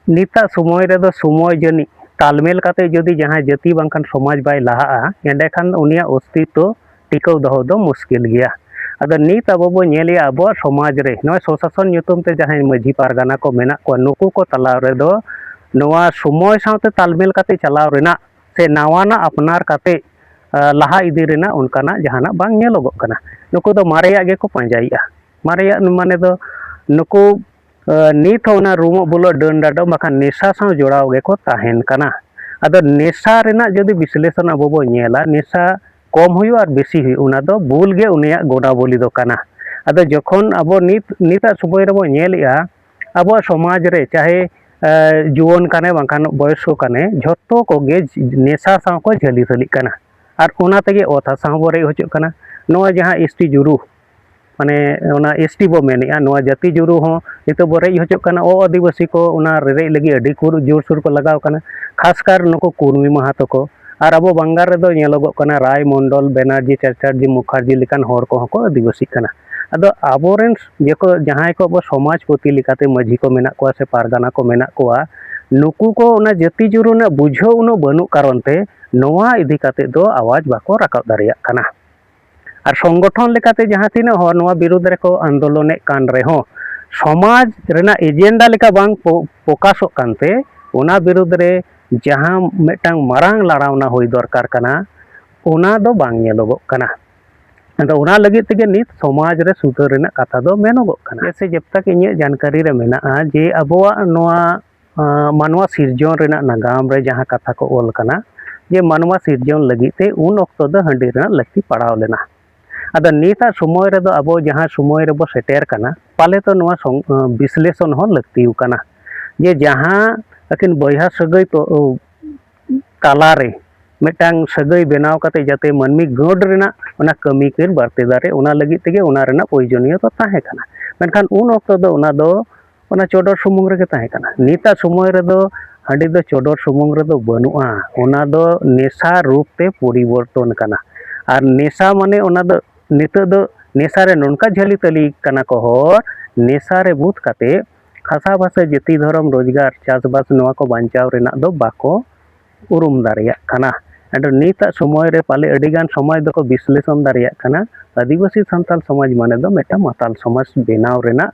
ᱱᱤᱛᱟᱜ ᱥᱚᱢᱚᱭ ᱨᱮᱫᱚ ᱥᱚᱢᱚᱭ ᱡᱟᱹᱱᱤᱡ ᱛᱟᱞᱢᱮᱞ ᱠᱟᱛᱮ ᱡᱩᱫᱤ ᱡᱟᱦᱟᱸᱭ ᱡᱟᱹᱛᱤ ᱵᱟᱝᱠᱷᱟᱱ ᱥᱚᱢᱟᱡᱽ ᱵᱟᱭ ᱞᱟᱦᱟᱜᱼᱟ ᱮᱸᱰᱮᱠᱷᱟᱱ ᱩᱱᱤᱭᱟᱜ ᱚᱥᱛᱤᱛᱛᱚ ᱴᱤᱠᱟᱹᱣ ᱫᱚᱦᱚ ᱫᱚ ᱢᱩᱥᱠᱤᱞ ᱜᱮᱭᱟ ᱟᱫᱚ ᱱᱤᱛ ᱟᱵᱚ ᱵᱚ ᱧᱮᱞᱮᱜᱼᱟ ᱟᱵᱚᱣᱟᱜ ᱥᱚᱢᱟᱡᱽ ᱨᱮ ᱱᱚᱜᱼᱚᱭ ᱥᱚᱥᱟᱥᱚᱱ ᱧᱩᱛᱩᱢ ᱛᱮ ᱡᱟᱦᱟᱸᱭ ᱢᱟᱺᱡᱷᱤ ᱯᱟᱨᱜᱟᱱᱟ ᱠᱚ ᱢᱮᱱᱟᱜ ᱠᱚᱣᱟ ᱱᱩᱠᱩ ᱠᱚ ᱛᱟᱞᱟ ᱨᱮᱫᱚ ᱱᱚᱣᱟ ᱥᱚᱢᱚᱭ ᱥᱟᱶᱛᱮ ᱛᱟᱞᱢᱮᱞ ᱠᱟᱛᱮ ᱪᱟᱞᱟᱣ ᱨᱮᱱᱟᱜ ᱥᱮ ᱱᱟᱣᱟᱱᱟᱜ ᱟᱯᱱᱟᱨ ᱠᱟᱛᱮ ᱞᱟᱦᱟ ᱤᱫᱤ ᱨᱮᱱᱟᱜ ᱚᱱᱠᱟᱱᱟᱜ ᱡᱟᱦᱟᱱᱟᱜ ᱵᱟᱝ ᱧᱮᱞᱚᱜᱚᱜ ᱠᱟᱱᱟ ᱱᱩᱠᱩ ᱫᱚ ᱢᱟᱨᱮᱭᱟᱜ ᱜᱮᱠᱚ ᱯᱟᱸᱡᱟᱭᱮᱜᱼᱟ ᱢᱟᱨᱮᱭᱟᱜ ᱢᱟᱱᱮ ᱫᱚ ᱱᱩᱠᱩ ᱱᱤᱛ ᱦᱚᱸ ᱚᱱᱟ ᱨᱩᱢᱚᱜ ᱵᱩᱞᱚᱜ ᱰᱟᱹᱱ ᱰᱟᱰᱚᱢ ᱵᱟᱠᱷᱟᱱ ᱱᱮᱥᱟ ᱥᱟᱶ ᱡᱚᱲᱟᱣ ᱜᱮᱠᱚ ᱛᱟᱦᱮᱱ ᱠᱟᱱᱟ ᱟᱫᱚ ᱱᱮᱥᱟ ᱨᱮᱱᱟᱜ ᱡᱩᱫᱤ ᱵᱤᱥᱞᱮᱥᱚᱱ ᱟᱵᱚ ᱵᱚᱱ ᱧᱮᱞᱟ ᱱᱮᱥᱟ ᱠᱚᱢ ᱦᱩᱭᱩᱜᱼᱟ ᱟᱨ ᱵᱮᱥᱤ ᱦᱩᱭᱩᱜᱼᱟ ᱚᱱᱟ ᱫᱚ ᱵᱩᱞ ᱜᱮ ᱩᱱᱤᱭᱟᱜ ᱜᱚᱰᱟ ᱵᱚᱞᱤ ᱫᱚ ᱠᱟᱱᱟ ᱟᱫᱚ ᱡᱚᱠᱷᱚᱱ ᱟᱵᱚ ᱱᱤᱛ ᱱᱤᱛᱟᱜ ᱥᱚᱢᱚᱭ ᱨᱮᱵᱚᱱ ᱧᱮᱞᱮᱜᱼᱟ ᱟᱵᱚᱣᱟᱜ ᱥᱚᱢᱟᱡᱽ ᱨᱮ ᱪᱟᱦᱮ ᱡᱩᱣᱟᱹᱱ ᱠᱟᱱᱮ ᱵᱟᱝᱠᱷᱟᱱ ᱵᱚᱭᱚᱥᱠᱚ ᱠᱟᱱᱮ ᱡᱷᱚᱛᱚ ᱠᱚᱜᱮ ᱱᱮᱥᱟ ᱥᱟᱶ ᱠᱚ ᱡᱷᱟᱹᱞᱤ ᱡᱷᱟᱹᱞᱤᱜ ᱠᱟᱱᱟ ᱟᱨ ᱚᱱᱟ ᱛᱮᱜᱮ ᱚᱛ ᱦᱟᱥᱟ ᱦᱚᱸᱵᱚᱱ ᱨᱮᱡ ᱦᱚᱪᱚᱜ ᱠᱟᱱᱟ ᱱᱚᱜᱼᱚᱭ ᱡᱟᱦᱟᱸ ᱮᱥ ᱴᱤ ᱡᱩᱞᱩ ᱢᱟᱱᱮ ᱚᱱᱟ ᱮᱥ ᱴᱤ ᱵᱚ ᱢᱮᱱᱮᱜᱼᱟ ᱱᱚᱣᱟ ᱡᱟᱹᱛᱤ ᱡᱩᱨᱩ ᱦᱚᱸ ᱱᱤᱛᱚᱜ ᱵᱚ ᱨᱮᱡ ᱦᱚᱪᱚᱜ ᱠᱟᱱᱟ ᱚ ᱟᱹᱫᱤᱵᱟᱹᱥᱤ ᱠᱚ ᱚᱱᱟ ᱨᱮᱨᱮᱡ ᱞᱟᱹᱜᱤᱫ ᱟᱹᱰᱤ ᱠᱚ ᱡᱳᱨ ᱥᱳᱨ ᱠᱚ ᱞᱟᱜᱟᱣ ᱠᱟᱱᱟ ᱠᱷᱟᱥ ᱠᱟᱨ ᱱᱩᱠᱩ ᱠᱩᱲᱢᱤ ᱢᱟᱦᱟᱛᱚ ᱠᱚ ᱟᱨ ᱟᱵᱚ ᱵᱟᱝᱜᱟᱞ ᱨᱮᱫᱚ ᱧᱮᱞᱚᱜᱚᱜ ᱠᱟᱱᱟ ᱨᱟᱭ ᱢᱚᱱᱰᱚᱞ ᱵᱮᱱᱟᱨᱡᱤ ᱪᱟᱴᱟᱨᱡᱤ ᱢᱩᱠᱷᱟᱨᱡᱤ ᱞᱮᱠᱟᱱ ᱦᱚᱲ ᱠᱚᱦᱚᱸ ᱠᱚ ᱟᱹᱫᱤᱵᱟᱹᱥᱤᱜ ᱠᱟᱱᱟ ᱟᱫᱚ ᱟᱵᱚ ᱨᱮᱱ ᱡᱚᱛᱚ ᱡᱟᱦᱟᱸᱭ ᱠᱚ ᱟᱵᱚ ᱥᱚᱢᱟᱡᱽ ᱯᱟᱹᱛᱤ ᱞᱮᱠᱟᱛᱮ ᱢᱟᱹᱡᱷᱤ ᱠᱚ ᱢᱮᱱᱟᱜ ᱠᱚᱣᱟ ᱥᱮ ᱯᱟᱨᱜᱟᱱᱟ ᱠᱚ ᱢᱮᱱᱟᱜ ᱠᱚᱣᱟ ᱱᱩᱠᱩ ᱠᱚ ᱚᱱᱟ ᱡᱟᱹᱛᱤ ᱡᱩᱨᱩ ᱨᱮᱱᱟᱜ ᱵᱩᱡᱷᱟᱹᱣ ᱩᱱᱟᱹᱜ ᱵᱟᱹᱱᱩᱜ ᱠᱟᱨᱚᱱ ᱛᱮ ᱱᱚᱣᱟ ᱤᱫᱤ ᱠᱟᱛᱮ ᱫᱚ ᱟᱣᱟᱡᱽ ᱵᱟᱠᱚ ᱨᱟᱠᱟᱵ ᱫᱟᱲᱮᱭᱟᱜ ᱠᱟᱱᱟ ᱟᱨ ᱥᱚᱝᱜᱚᱴᱷᱚᱱ ᱞᱮᱠᱟᱛᱮ ᱡᱟᱦᱟᱸ ᱛᱤᱱᱟᱹᱜ ᱦᱚᱲ ᱱᱚᱣᱟ ᱵᱤᱨᱩᱫᱽ ᱨᱮᱠᱚ ᱟᱱᱫᱳᱞᱚᱱᱮᱫ ᱠᱟᱱ ᱨᱮᱦᱚᱸ ᱥᱚᱢᱟᱡᱽ ᱨᱮᱱᱟᱜ ᱮᱡᱮᱱᱰᱟ ᱞᱮᱠᱟ ᱵᱟᱝ ᱯᱨᱚᱠᱟᱥᱚᱜ ᱠᱟᱱᱛᱮ ᱚᱱᱟ ᱵᱤᱨᱩᱫᱽ ᱨᱮ ᱡᱟᱦᱟᱸ ᱢᱤᱫᱴᱟᱝ ᱢᱟᱨᱟᱝ ᱞᱟᱲᱟᱣᱱᱟ ᱦᱩᱭ ᱫᱚᱨᱠᱟᱨ ᱠᱟᱱᱟ ᱚᱱᱟ ᱫᱚ ᱵᱟᱝ ᱧᱮᱞᱚᱜᱚᱜ ᱠᱟᱱᱟ ᱟᱫᱚ ᱚᱱᱟ ᱞᱟᱹᱜᱤᱫ ᱛᱮᱜᱮ ᱱᱤᱛ ᱥᱚᱢᱟᱡᱽ ᱨᱮ ᱥᱩᱫᱷᱟᱹᱨ ᱨᱮᱱᱟᱜ ᱠᱟᱛᱷᱟ ᱫᱚ ᱢᱮᱱᱚᱜᱚᱜ ᱠᱟᱱᱟ ᱥᱮ ᱡᱚᱵ ᱛᱟᱠ ᱤᱧᱟᱹᱜ ᱡᱟᱱᱠᱟᱨᱤ ᱨᱮ ᱢᱮᱱᱟᱜᱼᱟ ᱡᱮ ᱟᱵᱚᱣᱟᱜ ᱱᱚᱣᱟ ᱢᱟᱱᱣᱟ ᱥᱤᱨᱡᱚᱱ ᱨᱮᱱᱟᱜ ᱱᱟᱜᱟᱢ ᱨᱮ ᱡᱟᱦᱟᱸ ᱠᱟᱛᱷᱟ ᱠᱚ ᱚᱞ ᱟᱠᱟᱱᱟ ᱡᱮ ᱢᱟᱱᱣᱟ ᱥᱤᱨᱡᱚᱱ ᱞᱟᱹᱜᱤᱫ ᱛᱮ ᱩᱱ ᱚᱠᱛᱚ ᱫᱚ ᱦᱟᱺᱰᱤ ᱨᱮᱱᱟᱜ ᱞᱟᱹᱠᱛᱤ ᱯᱟᱲᱟᱣ ᱞᱮᱱᱟ ᱟᱫᱚ ᱱᱤᱛᱟᱜ ᱥᱚᱢᱚᱭ ᱨᱮᱫᱚ ᱟᱵᱚ ᱡᱟᱦᱟᱸ ᱥᱚᱢᱚᱭ ᱨᱮᱵᱚ ᱥᱮᱴᱮᱨ ᱠᱟᱱᱟ ᱯᱟᱞᱮ ᱛᱚ ᱱᱚᱣᱟ ᱵᱤᱥᱞᱮᱥᱚᱱ ᱦᱚᱸ ᱞᱟᱹᱠᱛᱤ ᱠᱟᱱᱟ ᱡᱮ ᱡᱟᱦᱟᱸ ᱟᱹᱠᱤᱱ ᱵᱚᱭᱦᱟ ᱥᱟᱹᱜᱟᱹᱭ ᱛᱚ ᱛᱟᱞᱟᱨᱮ ᱢᱤᱫᱴᱟᱝ ᱥᱟᱹᱜᱟᱹᱭ ᱵᱮᱱᱟᱣ ᱠᱟᱛᱮ ᱡᱟᱛᱮ ᱢᱟᱹᱱᱢᱤ ᱜᱟᱹᱰ ᱨᱮᱱᱟᱜ ᱚᱱᱟ ᱠᱟᱹᱢᱤ ᱠᱤᱱ ᱵᱟᱹᱲᱛᱤ ᱫᱟᱲᱮ ᱚᱱᱟ ᱞᱟᱹᱜᱤᱫ ᱛᱮᱜᱮ ᱚᱱᱟ ᱨᱮᱱᱟᱜ ᱯᱨᱚᱭᱳᱡᱚᱱᱤᱭᱚᱛᱟ ᱛᱟᱦᱮᱸ ᱠᱟᱱᱟ ᱢᱮᱱᱠᱷᱟᱱ ᱩᱱ ᱚᱠᱛᱚ ᱫᱚ ᱚᱱᱟ ᱫᱚ ᱚᱱᱟ ᱪᱚᱰᱚᱨ ᱥᱩᱢᱩᱝ ᱨᱮᱜᱮ ᱛᱟᱦᱮᱸ ᱠᱟᱱᱟ ᱱᱤᱛᱟᱜ ᱥᱚᱢᱚᱭ ᱨᱮᱫᱚ ᱦᱟᱺᱰᱤ ᱫᱚ ᱪᱚᱰᱚᱨ ᱥᱩᱢᱩᱝ ᱨᱮᱫᱚ ᱵᱟᱹᱱᱩᱜᱼᱟ ᱚᱱᱟ ᱫᱚ ᱱᱮᱥᱟ ᱨᱩᱯ ᱛᱮ ᱯᱚᱨᱤᱵᱚᱨᱛᱚᱱ ᱟᱠᱟᱱᱟ ᱟᱨ ᱱᱮᱥᱟ ᱢᱟᱱᱮ ᱚᱱᱟ ᱫᱚ ᱱᱤᱛᱚᱜ ᱫᱚ ᱱᱮᱥᱟ ᱨᱮ ᱱᱚᱝᱠᱟ ᱡᱷᱟᱹᱞᱤ ᱛᱟᱹᱞᱤ ᱟᱠᱟᱱᱟ ᱠᱚ ᱦᱚᱲ ᱱᱮᱥᱟ ᱨᱮ ᱵᱩᱫ ᱠᱟᱛᱮ ᱦᱟᱥᱟ ᱵᱷᱟᱥᱟ ᱡᱟᱹᱛᱤ ᱫᱷᱚᱨᱚᱢ ᱨᱳᱡᱽᱜᱟᱨ ᱪᱟᱥᱵᱟᱥ ᱱᱚᱣᱟ ᱠᱚ ᱵᱟᱧᱪᱟᱣ ᱨᱮᱱᱟᱜ ᱫᱚ ᱵᱟᱠᱚ ᱩᱨᱩᱢ ᱫᱟᱲᱮᱭᱟᱜ ᱠᱟᱱᱟ ᱟᱫᱚ ᱱᱤᱛᱟᱜ ᱥᱚᱢᱚᱭ ᱨᱮ ᱯᱟᱞᱮ ᱟᱹᱰᱤ ᱜᱟᱱ ᱥᱚᱢᱟᱡᱽ ᱫᱚᱠᱚ ᱵᱤᱥᱞᱮᱥᱚᱱ ᱫᱟᱲᱮᱭᱟᱜ ᱠᱟᱱᱟ ᱟᱹᱫᱤᱵᱟᱹᱥᱤ ᱥᱟᱱᱛᱟᱲ ᱥᱚᱢᱟᱡᱽ ᱢᱟᱱᱮ ᱫᱚ ᱢᱤᱫᱴᱟᱝ ᱢᱟᱛᱟᱞ ᱥᱚᱢᱟᱡᱽ ᱵᱮᱱᱟᱣ ᱨᱮᱱᱟᱜ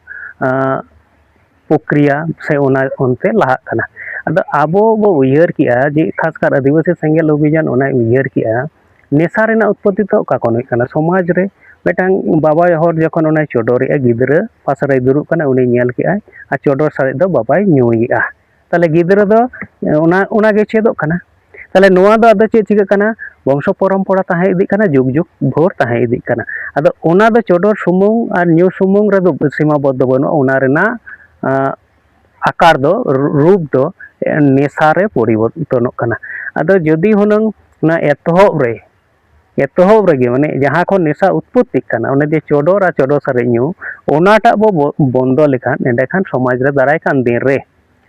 ᱯᱚᱠᱨᱤᱭᱟ ᱥᱮ ᱚᱱᱟ ᱚᱱᱛᱮ ᱞᱟᱦᱟᱜ ᱠᱟᱱᱟ ᱟᱫᱚ ᱟᱵᱚ ᱵᱚ ᱩᱭᱦᱟᱹᱨ ᱠᱮᱜᱼᱟ ᱡᱮ ᱠᱷᱟᱥ ᱠᱟᱨ ᱟᱹᱫᱤᱵᱟᱹᱥᱤ ᱥᱮᱸᱜᱮᱞ ᱚᱵᱷᱤᱡᱟᱱ ᱚᱱᱟᱭ ᱩᱭᱦᱟᱹᱨ ᱠᱮᱜᱼᱟ ᱱᱮᱥᱟ ᱨᱮᱱᱟᱜ ᱩᱛᱯᱚᱛᱛᱤ ᱫᱚ ᱚᱠᱟ ᱠᱷᱚᱱ ᱦᱩᱭᱩᱜ ᱠᱟᱱᱟ ᱥᱚᱢᱟᱡᱽ ᱨᱮ ᱢᱤᱫᱴᱟᱝ ᱵᱟᱵᱟ ᱦᱚᱲ ᱡᱚᱠᱷᱚᱱ ᱚᱱᱟᱭ ᱪᱚᱰᱚᱨᱮᱜᱼᱟ ᱜᱤᱫᱽᱨᱟᱹ ᱯᱟᱥᱮ ᱨᱮᱭ ᱫᱩᱲᱩᱵ ᱠᱟᱱᱟ ᱩᱱᱤ ᱧᱮᱞ ᱠᱮᱜᱼᱟᱭ ᱟᱨ ᱪᱚᱰᱚᱨ ᱥᱟᱨᱮᱡ ᱫᱚ ᱵᱟᱵᱟᱭ ᱧᱩᱭᱮᱜᱼᱟ ᱛᱟᱦᱚᱞᱮ ᱜᱤᱫᱽᱨᱟᱹ ᱫᱚ ᱚᱱᱟ ᱚᱱᱟᱜᱮ ᱪᱮᱫᱚᱜ ᱠᱟᱱᱟ ᱛᱟᱦᱚᱞᱮ ᱱᱚᱣᱟ ᱫᱚ ᱟᱫᱚ ᱪᱮᱫ ᱪᱤᱠᱟᱹᱜ ᱠᱟᱱᱟ ᱵᱚᱝᱥᱚ ᱯᱚᱨᱚᱢᱯᱚᱨᱟ ᱛᱟᱦᱮᱸ ᱤᱫᱤᱜ ᱠᱟᱱᱟ ᱡᱩᱜᱽ ᱡᱩᱜᱽ ᱵᱷᱳᱨ ᱛᱟᱦᱮᱸ ᱤᱫᱤᱜ ᱠᱟᱱᱟ ᱟᱫᱚ ᱚᱱᱟ ᱫᱚ ᱪᱚᱰᱚᱨ ᱥᱩᱢᱩᱝ ᱟᱨ ᱧᱩ ᱥᱩᱢᱩᱝ ᱨᱮᱫᱚ ᱥᱤᱢᱟ ᱵᱚᱫᱽᱫᱷᱚ ᱵᱟᱹᱱᱩᱜᱼᱟ ᱚᱱᱟ ᱨᱮᱱᱟᱜ ᱟᱠᱟᱨ ᱫᱚ ᱨᱩᱯ ᱫᱚ ᱱᱮᱥᱟ ᱨᱮ ᱯᱚᱨᱤᱵᱚᱨᱛᱚᱱᱚᱜ ᱠᱟᱱᱟ ᱟᱫᱚ ᱡᱩᱫᱤ ᱦᱩᱱᱟᱹᱝ ᱚᱱᱟ ᱮᱛᱚᱦᱚᱵ ᱨᱮ ᱮᱛᱚᱦᱚᱵ ᱨᱮᱜᱮ ᱢᱟᱱᱮ ᱡᱟᱦᱟᱸ ᱠᱷᱚᱱ ᱱᱮᱥᱟ ᱩᱛᱯᱚᱛᱛᱤᱜ ᱠᱟᱱᱟ ᱚᱱᱮ ᱡᱮ ᱪᱚᱰᱚᱨ ᱟᱨ ᱪᱚᱰᱚᱨ ᱥᱟᱨᱮᱡ ᱧᱩ ᱚᱱᱟᱴᱟᱜ ᱵᱚ ᱵᱚᱱᱫᱚ ᱞᱮᱠᱷᱟᱱ ᱮᱸᱰᱮᱠᱷᱟᱱ ᱥᱚᱢᱟᱡᱽ ᱨᱮ ᱫᱟᱨᱟᱭ ᱠᱟᱱ ᱫᱤᱱ ᱨᱮ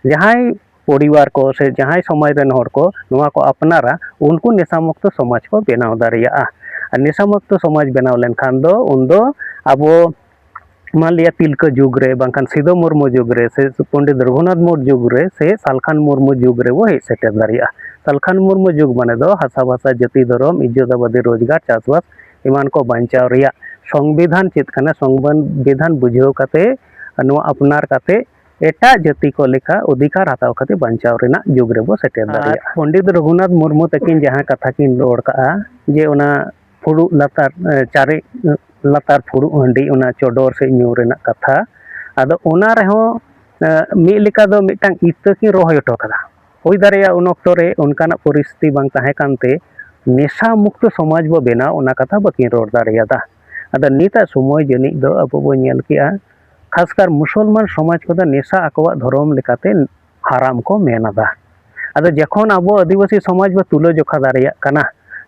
ᱡᱟᱦᱟᱸᱭ ᱯᱚᱨᱤᱵᱟᱨ ᱠᱚ ᱥᱮ ᱡᱟᱦᱟᱸᱭ ᱥᱚᱢᱟᱡᱽ ᱨᱮᱱ ᱦᱚᱲ ᱠᱚ ᱱᱚᱣᱟ ᱠᱚ ᱟᱯᱱᱟᱨᱟ ᱩᱱᱠᱩ ᱱᱮᱥᱟ ᱢᱩᱠᱛᱚ ᱥᱚᱢᱟᱡᱽ ᱠᱚ ᱵᱮᱱᱟᱣ ᱫᱟᱲᱮᱭᱟᱜᱼᱟ ᱟᱨ ᱱᱮᱥᱟ ᱢᱩᱠᱛᱚ ᱥᱚᱢᱟᱡᱽ ᱵᱮᱱᱟᱣ ᱞᱮᱱᱠᱷᱟᱱ ᱫᱚ ᱩᱱᱫᱚ ᱟᱵᱚ ᱢᱟᱱ ᱞᱤᱭᱟ ᱛᱤᱞᱠᱟᱹ ᱡᱩᱜᱽ ᱨᱮ ᱵᱟᱝᱠᱷᱟᱱ ᱥᱤᱫᱷᱩ ᱢᱩᱨᱢᱩ ᱡᱩᱜᱽ ᱨᱮ ᱥᱮ ᱯᱚᱱᱰᱤᱛ ᱨᱚᱜᱷᱩᱱᱟᱛᱷ ᱢᱩᱨᱢᱩ ᱡᱩᱜᱽ ᱨᱮ ᱥᱮ ᱥᱟᱞᱠᱷᱟᱱ ᱢᱩᱨᱢᱩ ᱡᱩᱜᱽ ᱨᱮ ᱵᱚ ᱦᱮᱡ ᱥᱮᱴᱮᱨ ᱫᱟᱲᱮᱭᱟᱜᱼᱟ ᱥᱟᱞᱠᱷᱟᱱ ᱢᱩᱨᱢᱩ ᱡᱩᱜᱽ ᱢᱟᱱᱮ ᱫᱚ ᱦᱟᱥᱟ ᱵᱷᱟᱥᱟ ᱡᱟᱹᱛᱤ ᱫᱷᱚᱨᱚᱢ ᱤᱡᱡᱚᱛ ᱟᱵᱟᱫᱤ ᱨᱳᱡᱽᱜᱟᱨ ᱪᱟᱥᱵᱟᱥ ᱮᱢᱟᱱ ᱠᱚ ᱵᱟᱧᱪᱟᱣ ᱨᱮᱭᱟᱜ ᱥᱚᱝᱵᱤᱫᱷᱟᱱ ᱪᱮᱫ ᱠᱟᱱᱟ ᱥᱚᱝᱵᱤᱫᱷᱟᱱ ᱵᱩᱡᱷᱟᱹᱣ ᱠᱟᱛᱮ ᱱᱚᱣᱟ ᱟᱯᱱᱟᱨ ᱠᱟᱛᱮ ᱮᱴᱟᱜ ᱡᱟᱹᱛᱤ ᱠᱚ ᱞᱮᱠᱟ ᱚᱫᱷᱤᱠᱟᱨ ᱦᱟᱛᱟᱣ ᱠᱟᱛᱮ ᱵᱟᱧᱪᱟᱣ ᱨᱮᱱᱟᱜ ᱡᱩᱜᱽ ᱨᱮᱵᱚ ᱥᱮᱴᱮᱨ ᱫᱟᱲᱮᱭᱟᱜᱼᱟ ᱯᱚᱱᱰᱤᱛ ᱨᱚᱜᱷᱩᱱᱟᱛᱷ ᱢᱩᱨᱢᱩ ᱛᱟᱹᱠᱤᱱ ᱡᱟᱦᱟᱸ ᱠᱟᱛᱷᱟ ᱠᱤᱱ ᱨᱚᱲ ᱠᱟᱜᱼᱟ ᱡᱮ ᱚᱱᱟ ᱯᱷᱩᱲᱩᱜ ᱞᱟᱛᱟᱨ ᱪᱟᱨᱮᱡ ᱞᱟᱛᱟᱨ ᱯᱷᱩᱲᱩᱜ ᱦᱟᱺᱰᱤ ᱚᱱᱟ ᱪᱚᱰᱚᱨ ᱥᱮ ᱧᱩ ᱨᱮᱱᱟᱜ ᱠᱟᱛᱷᱟ ᱟᱫᱚ ᱚᱱᱟ ᱨᱮᱦᱚᱸ ᱢᱤᱫ ᱞᱮᱠᱟ ᱫᱚ ᱢᱤᱫᱴᱟᱝ ᱤᱛᱟᱹ ᱠᱤᱱ ᱨᱚᱦᱚᱭ ᱦᱚᱴᱚ ᱠᱟᱫᱟ ᱦᱩᱭ ᱫᱟᱲᱮᱭᱟᱜᱼᱟ ᱩᱱ ᱚᱠᱛᱚ ᱨᱮ ᱚᱱᱠᱟᱱᱟᱜ ᱯᱚᱨᱤᱥᱛᱷᱤᱛᱤ ᱵᱟᱝ ᱛᱟᱦᱮᱸ ᱠᱟᱱᱛᱮ ᱱᱮᱥᱟ ᱢᱩᱠᱛᱚ ᱥᱚᱢᱟᱡᱽ ᱵᱚ ᱵᱮᱱᱟᱣ ᱚᱱᱟ ᱠᱟᱛᱷᱟ ᱵᱟᱹᱠᱤᱱ ᱨᱚᱲ ᱫᱟᱲᱮᱭᱟᱫᱟ ᱟᱫᱚ ᱱᱤᱛᱟᱜ ᱥᱚᱢᱚᱭ ᱡᱟᱹᱱᱤᱡ ᱫᱚ ᱟᱵᱚ ᱵᱚ ᱧᱮᱞ ᱠᱮᱜᱼᱟ ᱠᱷᱟᱥᱠᱟᱨ ᱢᱩᱥᱚᱞᱢᱟᱱ ᱥᱚᱢᱟᱡᱽ ᱠᱚᱫᱚ ᱱᱮᱥᱟ ᱟᱠᱚᱣᱟᱜ ᱫᱷᱚᱨᱚᱢ ᱞᱮᱠᱟᱛᱮ ᱦᱟᱨᱟᱢ ᱠᱚ ᱢᱮᱱ ᱟᱫᱟ ᱟᱫᱚ ᱡᱚᱠᱷᱚᱱ ᱟᱵᱚ ᱟᱹᱫᱤᱵᱟᱹᱥᱤ ᱥᱚᱢᱟᱡᱽ ᱵᱚ ᱛᱩᱞᱟᱹ ᱡᱚᱠᱷᱟ ᱫᱟᱲᱮᱭᱟᱜ ᱠᱟᱱᱟ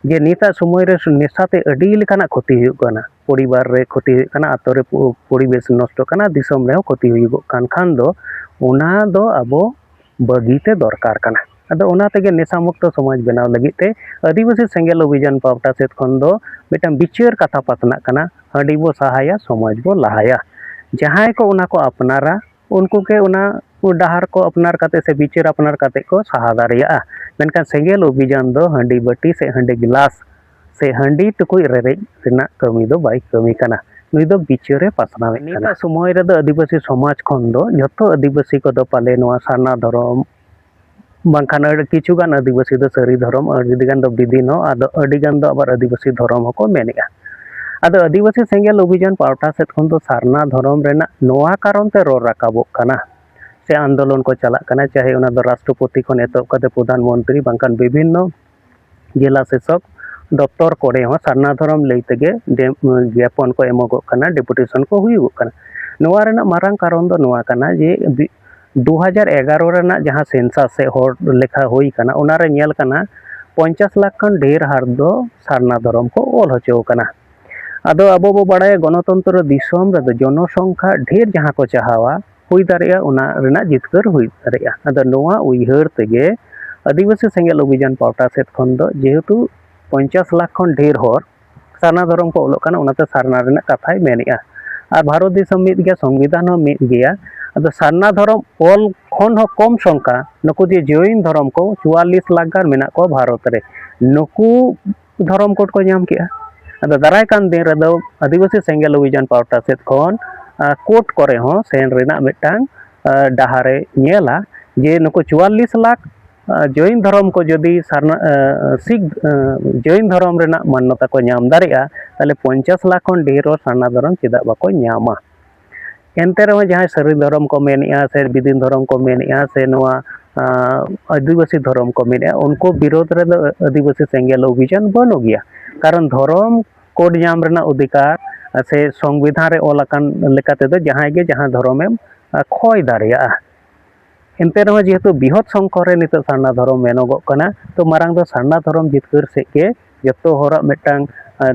ᱡᱮ ᱱᱤᱛᱟᱜ ᱥᱚᱢᱚᱭ ᱨᱮ ᱱᱮᱥᱟ ᱛᱮ ᱟᱹᱰᱤ ᱞᱮᱠᱟᱱᱟᱜ ᱠᱷᱚᱛᱤ ᱦᱩᱭᱩᱜ ᱠᱟᱱᱟ ᱯᱚᱨᱤᱵᱟᱨ ᱨᱮ ᱠᱷᱚᱛᱤ ᱦᱩᱭᱩᱜ ᱠᱟᱱᱟ ᱟᱛᱳ ᱨᱮ ᱯᱚᱨᱤᱵᱮᱥ ᱱᱚᱥᱴᱚᱜ ᱠᱟᱱᱟ ᱫᱤᱥᱚᱢ ᱨᱮᱦᱚᱸ ᱠᱷᱚᱛᱤ ᱦᱩᱭᱩᱜᱚᱜ ᱠᱟᱱ ᱠᱷᱟᱱ ᱫᱚ ᱚᱱᱟ ᱫᱚ ᱟᱵᱚ ᱵᱟᱹᱜᱤ ᱛᱮ ᱫᱚᱨᱠᱟᱨ ᱠᱟᱱᱟ ᱟᱫᱚ ᱚᱱᱟ ᱛᱮᱜᱮ ᱱᱮᱥᱟ ᱢᱩᱠᱛᱚ ᱥᱚᱢᱟᱡᱽ ᱵᱮᱱᱟᱣ ᱞᱟᱹᱜᱤᱫ ᱛᱮ ᱟᱹᱫᱤᱵᱟᱹᱥᱤ ᱥᱮᱸᱜᱮᱞ ᱚᱵᱷᱤᱡᱟᱱ ᱯᱟᱦᱴᱟ ᱥᱮᱫ ᱠᱷᱚᱱ ᱫᱚ ᱢᱤᱫᱴᱟᱝ ᱵᱤᱪᱟᱹᱨ ᱠᱟᱛᱷᱟ ᱯᱟᱥᱱᱟᱜ ᱠᱟᱱᱟ ᱦᱟᱺᱰᱤ ᱵᱚ ᱥᱟᱦᱟᱭᱟ ᱥᱚᱢᱟᱡᱽ ᱵᱚ ᱞᱟᱦᱟᱭᱟ ᱡᱟᱦᱟᱸᱭ ᱠᱚ ᱚᱱᱟ ᱠᱚ ᱟᱯᱱᱟᱨᱟ ᱩᱱᱠᱩ ᱜᱮ ᱚᱱᱟ ᱰᱟᱦᱟᱨ ᱠᱚ ᱟᱯᱱᱟᱨ ᱠᱟᱛᱮ ᱥᱮ ᱵᱤᱪᱟᱹᱨ ᱟᱯᱱᱟᱨ ᱠᱟᱛᱮ ᱠᱚ ᱥᱟᱦᱟ ᱫᱟᱲᱮᱭᱟᱜᱼᱟ ᱢᱮᱱᱠᱷᱟᱱ ᱥᱮᱸᱜᱮᱞ ᱚᱵᱷᱤᱡᱟᱱ ᱫᱚ ᱦᱟᱺᱰᱤ ᱵᱟᱹᱴᱤ ᱥᱮ ᱦᱟᱺᱰᱤ ᱜᱤᱞᱟᱥ ᱥᱮ ᱦᱟᱺᱰᱤ ᱴᱩᱠᱩᱡ ᱨᱮᱨᱮᱡ ᱨᱮᱱᱟᱜ ᱠᱟᱹᱢᱤ ᱫᱚ ᱵᱟᱭ ᱠᱟᱹᱢᱤ ᱠᱟᱱᱟ ᱱᱩᱭ ᱫᱚ ᱵᱤᱪᱟᱹᱨᱮ ᱯᱟᱥᱱᱟᱣᱮᱫ ᱠᱟᱱᱟ ᱱᱤᱛᱟᱜ ᱥᱚᱢᱚᱭ ᱨᱮᱫᱚ ᱟᱹᱫᱤᱵᱟᱹᱥᱤ ᱥᱚᱢᱟᱡᱽ ᱠᱷᱚᱱ ᱫᱚ ᱡᱚᱛᱚ ᱟᱹᱫᱤᱵᱟᱹᱥᱤ ᱠᱚᱫᱚ ᱯᱟᱞᱮ ᱱᱚᱣᱟ ᱥᱟᱨᱱᱟ ᱫᱷᱚᱨᱚᱢ ᱵᱟᱝᱠᱷᱟᱱ ᱟᱹᱰᱤ ᱠᱤᱪᱷᱩ ᱜᱟᱱ ᱟᱹᱫᱤᱵᱟᱹᱥᱤ ᱫᱚ ᱥᱟᱹᱨᱤ ᱫᱷᱚᱨᱚᱢ ᱟᱹᱰᱤ ᱜᱟᱱ ᱫᱚ ᱵᱤᱫᱤᱱ ᱦᱚᱸ ᱟᱫᱚ ᱟᱹᱰᱤ ᱜᱟᱱ ᱫᱚ ᱟᱵᱟᱨ ᱟᱹᱫᱤᱵᱟᱹᱥᱤ ᱫᱷᱚᱨᱚᱢ ᱦᱚᱸᱠᱚ ᱢᱮᱱᱮᱜᱼᱟ ᱟᱫᱚ ᱟᱹᱫᱤᱵᱟᱹᱥᱤ ᱥᱮᱸᱜᱮᱞ ᱚᱵᱷᱤᱡᱟᱱ ᱯᱟᱦᱴᱟ ᱥᱮᱫ ᱠᱷᱚᱱ ᱫᱚ ᱥᱟᱨᱱᱟ ᱫᱷᱚᱨᱚᱢ ᱨᱮᱱᱟᱜ ᱱᱚᱣᱟ ᱠᱟᱨᱚᱱ ᱛᱮ ᱨᱚᱲ ᱨᱟᱠᱟᱵᱚᱜ ᱠᱟᱱᱟ ᱥᱮ ᱟᱱᱫᱳᱞᱚᱱ ᱠᱚ ᱪᱟᱞᱟᱜ ᱠᱟᱱᱟ ᱪᱟᱦᱮ ᱚᱱᱟ ᱫᱚ ᱨᱟᱥᱴᱨᱚᱯᱚᱛᱤ ᱠᱷᱚᱱ ᱮᱛᱚᱦᱚᱵ ᱠᱟᱛᱮᱫ ᱯᱨᱚᱫᱷᱟᱱ ᱢᱚᱱᱛᱨᱤ ᱵᱟᱝᱠᱷᱟᱱ ᱵᱤᱵᱷᱤᱱᱱᱚ ᱡᱮᱞᱟ ᱥᱮᱥᱚᱠ ᱫᱚᱯᱛᱚᱨ ᱠᱚᱨᱮ ᱦᱚᱸ ᱥᱟᱨᱱᱟ ᱫᱷᱚᱨᱚᱢ ᱞᱟᱹᱭ ᱛᱮᱜᱮ ᱡᱟᱯᱚᱱ ᱠᱚ ᱮᱢᱚᱜᱚᱜ ᱠᱟᱱᱟ ᱰᱮᱯᱩᱴᱮᱥᱚᱱ ᱠᱚ ᱦᱩᱭᱩᱜᱚᱜ ᱠᱟᱱᱟ ᱱᱚᱣᱟ ᱨᱮᱱᱟᱜ ᱢᱟᱨᱟᱝ ᱠᱟᱨᱚᱱ ᱫᱚ ᱱᱚᱣᱟ ᱠᱟᱱᱟ ᱡᱮ ᱫᱩ ᱦᱟᱡᱟᱨ ᱮᱜᱟᱨᱚ ᱨᱮᱱᱟᱜ ᱡᱟᱦᱟᱸ ᱥᱮᱱᱥᱟᱥ ᱥᱮ ᱦᱚᱲ ᱞᱮᱠᱷᱟ ᱦᱩᱭ ᱠᱟᱱᱟ ᱚᱱᱟ ᱨᱮ ᱧᱮᱞ ᱠᱟᱱᱟ ᱯᱚᱧᱪᱟᱥ ᱞᱟᱠᱷ ᱠᱷᱚᱱ ᱰᱷᱮᱨ ᱦᱟᱨ ᱫᱚ ᱥᱟᱨᱱᱟ ᱫᱷᱚᱨᱚᱢ ᱠᱚ ᱚᱞ ᱦᱚᱪᱚ ᱠᱟᱱᱟ ᱟᱫᱚ ᱟᱵᱚ ᱵᱚ ᱵᱟᱲᱟᱭᱟ ᱜᱚᱱᱚᱛᱚᱱᱛᱨᱚ ᱫᱤᱥᱚᱢ ᱨᱮᱫᱚ ᱡᱚᱱᱚᱥᱚᱝᱠᱷᱟ ᱰᱷᱮᱨ ᱡᱟᱦᱟᱸ ᱠᱚ ᱪᱟᱦᱟᱣᱟ ᱦᱩᱭ ᱫᱟᱲᱮᱭᱟᱜᱼᱟ ᱚᱱᱟ ᱨᱮᱱᱟᱜ ᱡᱤᱛᱠᱟᱹᱨ ᱦᱩᱭ ᱫᱟᱲᱮᱭᱟᱜᱼᱟ ᱟᱫᱚ ᱱᱚᱣᱟ ᱩᱭᱦᱟᱹᱨ ᱛᱮᱜᱮ ᱟᱹᱫᱤᱵᱟᱹᱥᱤ ᱥᱮᱸᱜᱮᱞ ᱚᱵᱷᱤᱡᱟᱱ ᱯᱟᱦᱴᱟ ᱥᱮᱫ ᱠᱷᱚᱱ ᱫᱚ ᱡᱮᱦᱮᱛᱩ ᱯᱚᱧᱪᱟᱥ ᱞᱟᱠᱷ ᱠᱷᱚᱱ ᱰᱷᱮᱨ ᱦᱚᱲ ᱥᱟᱨᱱᱟ ᱫᱷᱚᱨᱚᱢ ᱠᱚ ᱚᱞᱚᱜ ᱠᱟᱱᱟ ᱚᱱᱟᱛᱮ ᱥᱟᱨᱱᱟ ᱨᱮᱱᱟᱜ ᱠᱟᱛᱷᱟᱭ ᱢᱮᱱᱮᱜᱼᱟ ᱟᱨ ᱵᱷᱟᱨᱚᱛ ᱫᱤᱥᱚᱢ ᱢᱤᱫ ᱜᱮᱭᱟ ᱥᱚᱝᱵᱤᱫᱷᱟᱱ ᱦᱚᱸ ᱢᱤᱫ ᱜᱮᱭᱟ ᱟᱫᱚ ᱥᱟᱨᱱᱟ ᱫᱷᱚᱨᱚᱢ ᱚᱞ ᱠᱷᱚᱱ ᱦᱚᱸ ᱠᱚᱢ ᱥᱚᱝᱠᱷᱟ ᱱᱩᱠᱩ ᱡᱮ ᱡᱚᱭᱤᱱ ᱫᱷᱚᱨᱚᱢ ᱠᱚ ᱪᱩᱣᱟᱞᱞᱤᱥ ᱞᱟᱠᱷ ᱜᱟᱱ ᱢᱮᱱᱟᱜ ᱠᱚᱣᱟ ᱵᱷᱟᱨᱚᱛ ᱨᱮ ᱱᱩᱠᱩ ᱫᱷᱚᱨᱚᱢ ᱠᱳᱰ ᱠᱚ ᱧᱟᱢ ᱠᱮᱜᱼᱟ ᱟᱫᱚ ᱫᱟᱨᱟᱭ ᱠᱟᱱ ᱫᱤᱱ ᱨᱮᱫᱚ ᱟᱹᱫᱤᱵᱟᱹᱥᱤ ᱥᱮᱸᱜᱮᱞ ᱚᱵᱷᱤᱡᱟᱱ ᱯᱟᱦᱴᱟ ᱥᱮᱫ ᱠᱷᱚᱱ ᱠᱳᱨᱴ ᱠᱚᱨᱮ ᱦᱚᱸ ᱥᱮᱱ ᱨᱮᱱᱟᱜ ᱢᱤᱫᱴᱟᱝ ᱰᱟᱦᱟᱨᱮ ᱧᱮᱞᱟ ᱡᱮ ᱱᱩᱠᱩ ᱪᱩᱣᱟᱞᱞᱤᱥ ᱞᱟᱠᱷ ᱡᱚᱭᱤᱱ ᱫᱷᱚᱨᱚᱢ ᱠᱚ ᱡᱩᱫᱤ ᱥᱟᱨᱱᱟ ᱥᱤᱠᱷ ᱡᱚᱭᱤᱱ ᱫᱷᱚᱨᱚᱢ ᱨᱮᱱᱟᱜ ᱢᱟᱱᱱᱚᱛᱟ ᱠᱚ ᱧᱟᱢ ᱫᱟᱲᱮᱭᱟᱜᱼᱟ ᱛᱟᱦᱚᱞᱮ ᱯᱚᱧᱪᱟᱥ ᱞᱟᱠᱷ ᱠᱷᱚᱱ ᱰᱷᱮᱨ ᱦᱚᱲ ᱥᱟᱨᱱᱟ ᱫᱷᱚᱨᱚᱢ ᱪᱮᱫᱟᱜ ᱵᱟᱠᱚ ᱧᱟᱢᱟ ᱮᱱᱛᱮ ᱨᱮᱦᱚᱸ ᱡᱟᱦᱟᱸᱭ ᱥᱟᱹᱨᱤ ᱫᱷᱚᱨᱚᱢ ᱠᱚ ᱢᱮᱱᱮᱫᱼᱟ ᱥᱮ ᱵᱤᱫᱤᱱ ᱫᱷᱚᱨᱚᱢ ᱠᱚ ᱢᱮᱱᱮᱫᱼᱟ ᱥᱮ ᱱᱚᱣᱟ ᱟᱹᱫᱤᱵᱟᱹᱥᱤ ᱫᱷᱚᱨᱚᱢ ᱠᱚ ᱢᱮᱱᱮᱫᱼᱟ ᱩᱱᱠᱩ ᱵᱤᱨᱳᱫᱷ ᱨᱮᱫᱚ ᱟᱹᱫᱤᱵᱟᱹᱥᱤ ᱥᱮᱸᱜᱮᱞ ᱚᱵᱷᱤᱡᱟᱱ ᱵᱟᱹᱱᱩᱜ ᱜᱮᱭᱟ ᱠᱟᱨᱚᱱ ᱫᱷᱚᱨᱚᱢ ᱠᱳᱰ ᱧᱟᱢ ᱨᱮᱱᱟᱜ ᱚᱫᱷᱤᱠᱟᱨ ᱥᱮ ᱥᱚᱝᱵᱤᱫᱷᱟᱱ ᱨᱮ ᱚᱞ ᱟᱠᱟᱱ ᱞᱮᱠᱟ ᱛᱮᱫᱚ ᱡᱟᱦᱟᱸᱭ ᱜᱮ ᱡᱟᱦᱟᱸ ᱫᱷᱚᱨᱚᱢᱮᱢ ᱠᱷᱚᱭ ᱫᱟᱲᱮᱭᱟᱜᱼᱟ ᱮᱱᱛᱮ ᱨᱮᱦᱚᱸ ᱡᱮᱦᱮᱛᱩ ᱵᱤᱦᱚᱛ ᱥᱚᱝᱠᱚᱨ ᱨᱮ ᱱᱤᱛᱚᱜ ᱥᱟᱨᱱᱟ ᱫᱷᱚᱨᱚᱢ ᱢᱮᱱᱚᱜᱚᱜ ᱠᱟᱱᱟ ᱛᱚ ᱢᱟᱨᱟᱝ ᱫᱚ ᱥᱟᱨᱱᱟ ᱫᱷᱚᱨᱚᱢ ᱡᱤᱛᱠᱟᱹᱨ ᱥᱮᱫ ᱜᱮ ᱡᱚᱛᱚ ᱦᱚᱲᱟᱜ ᱢᱤᱫᱴᱟᱝ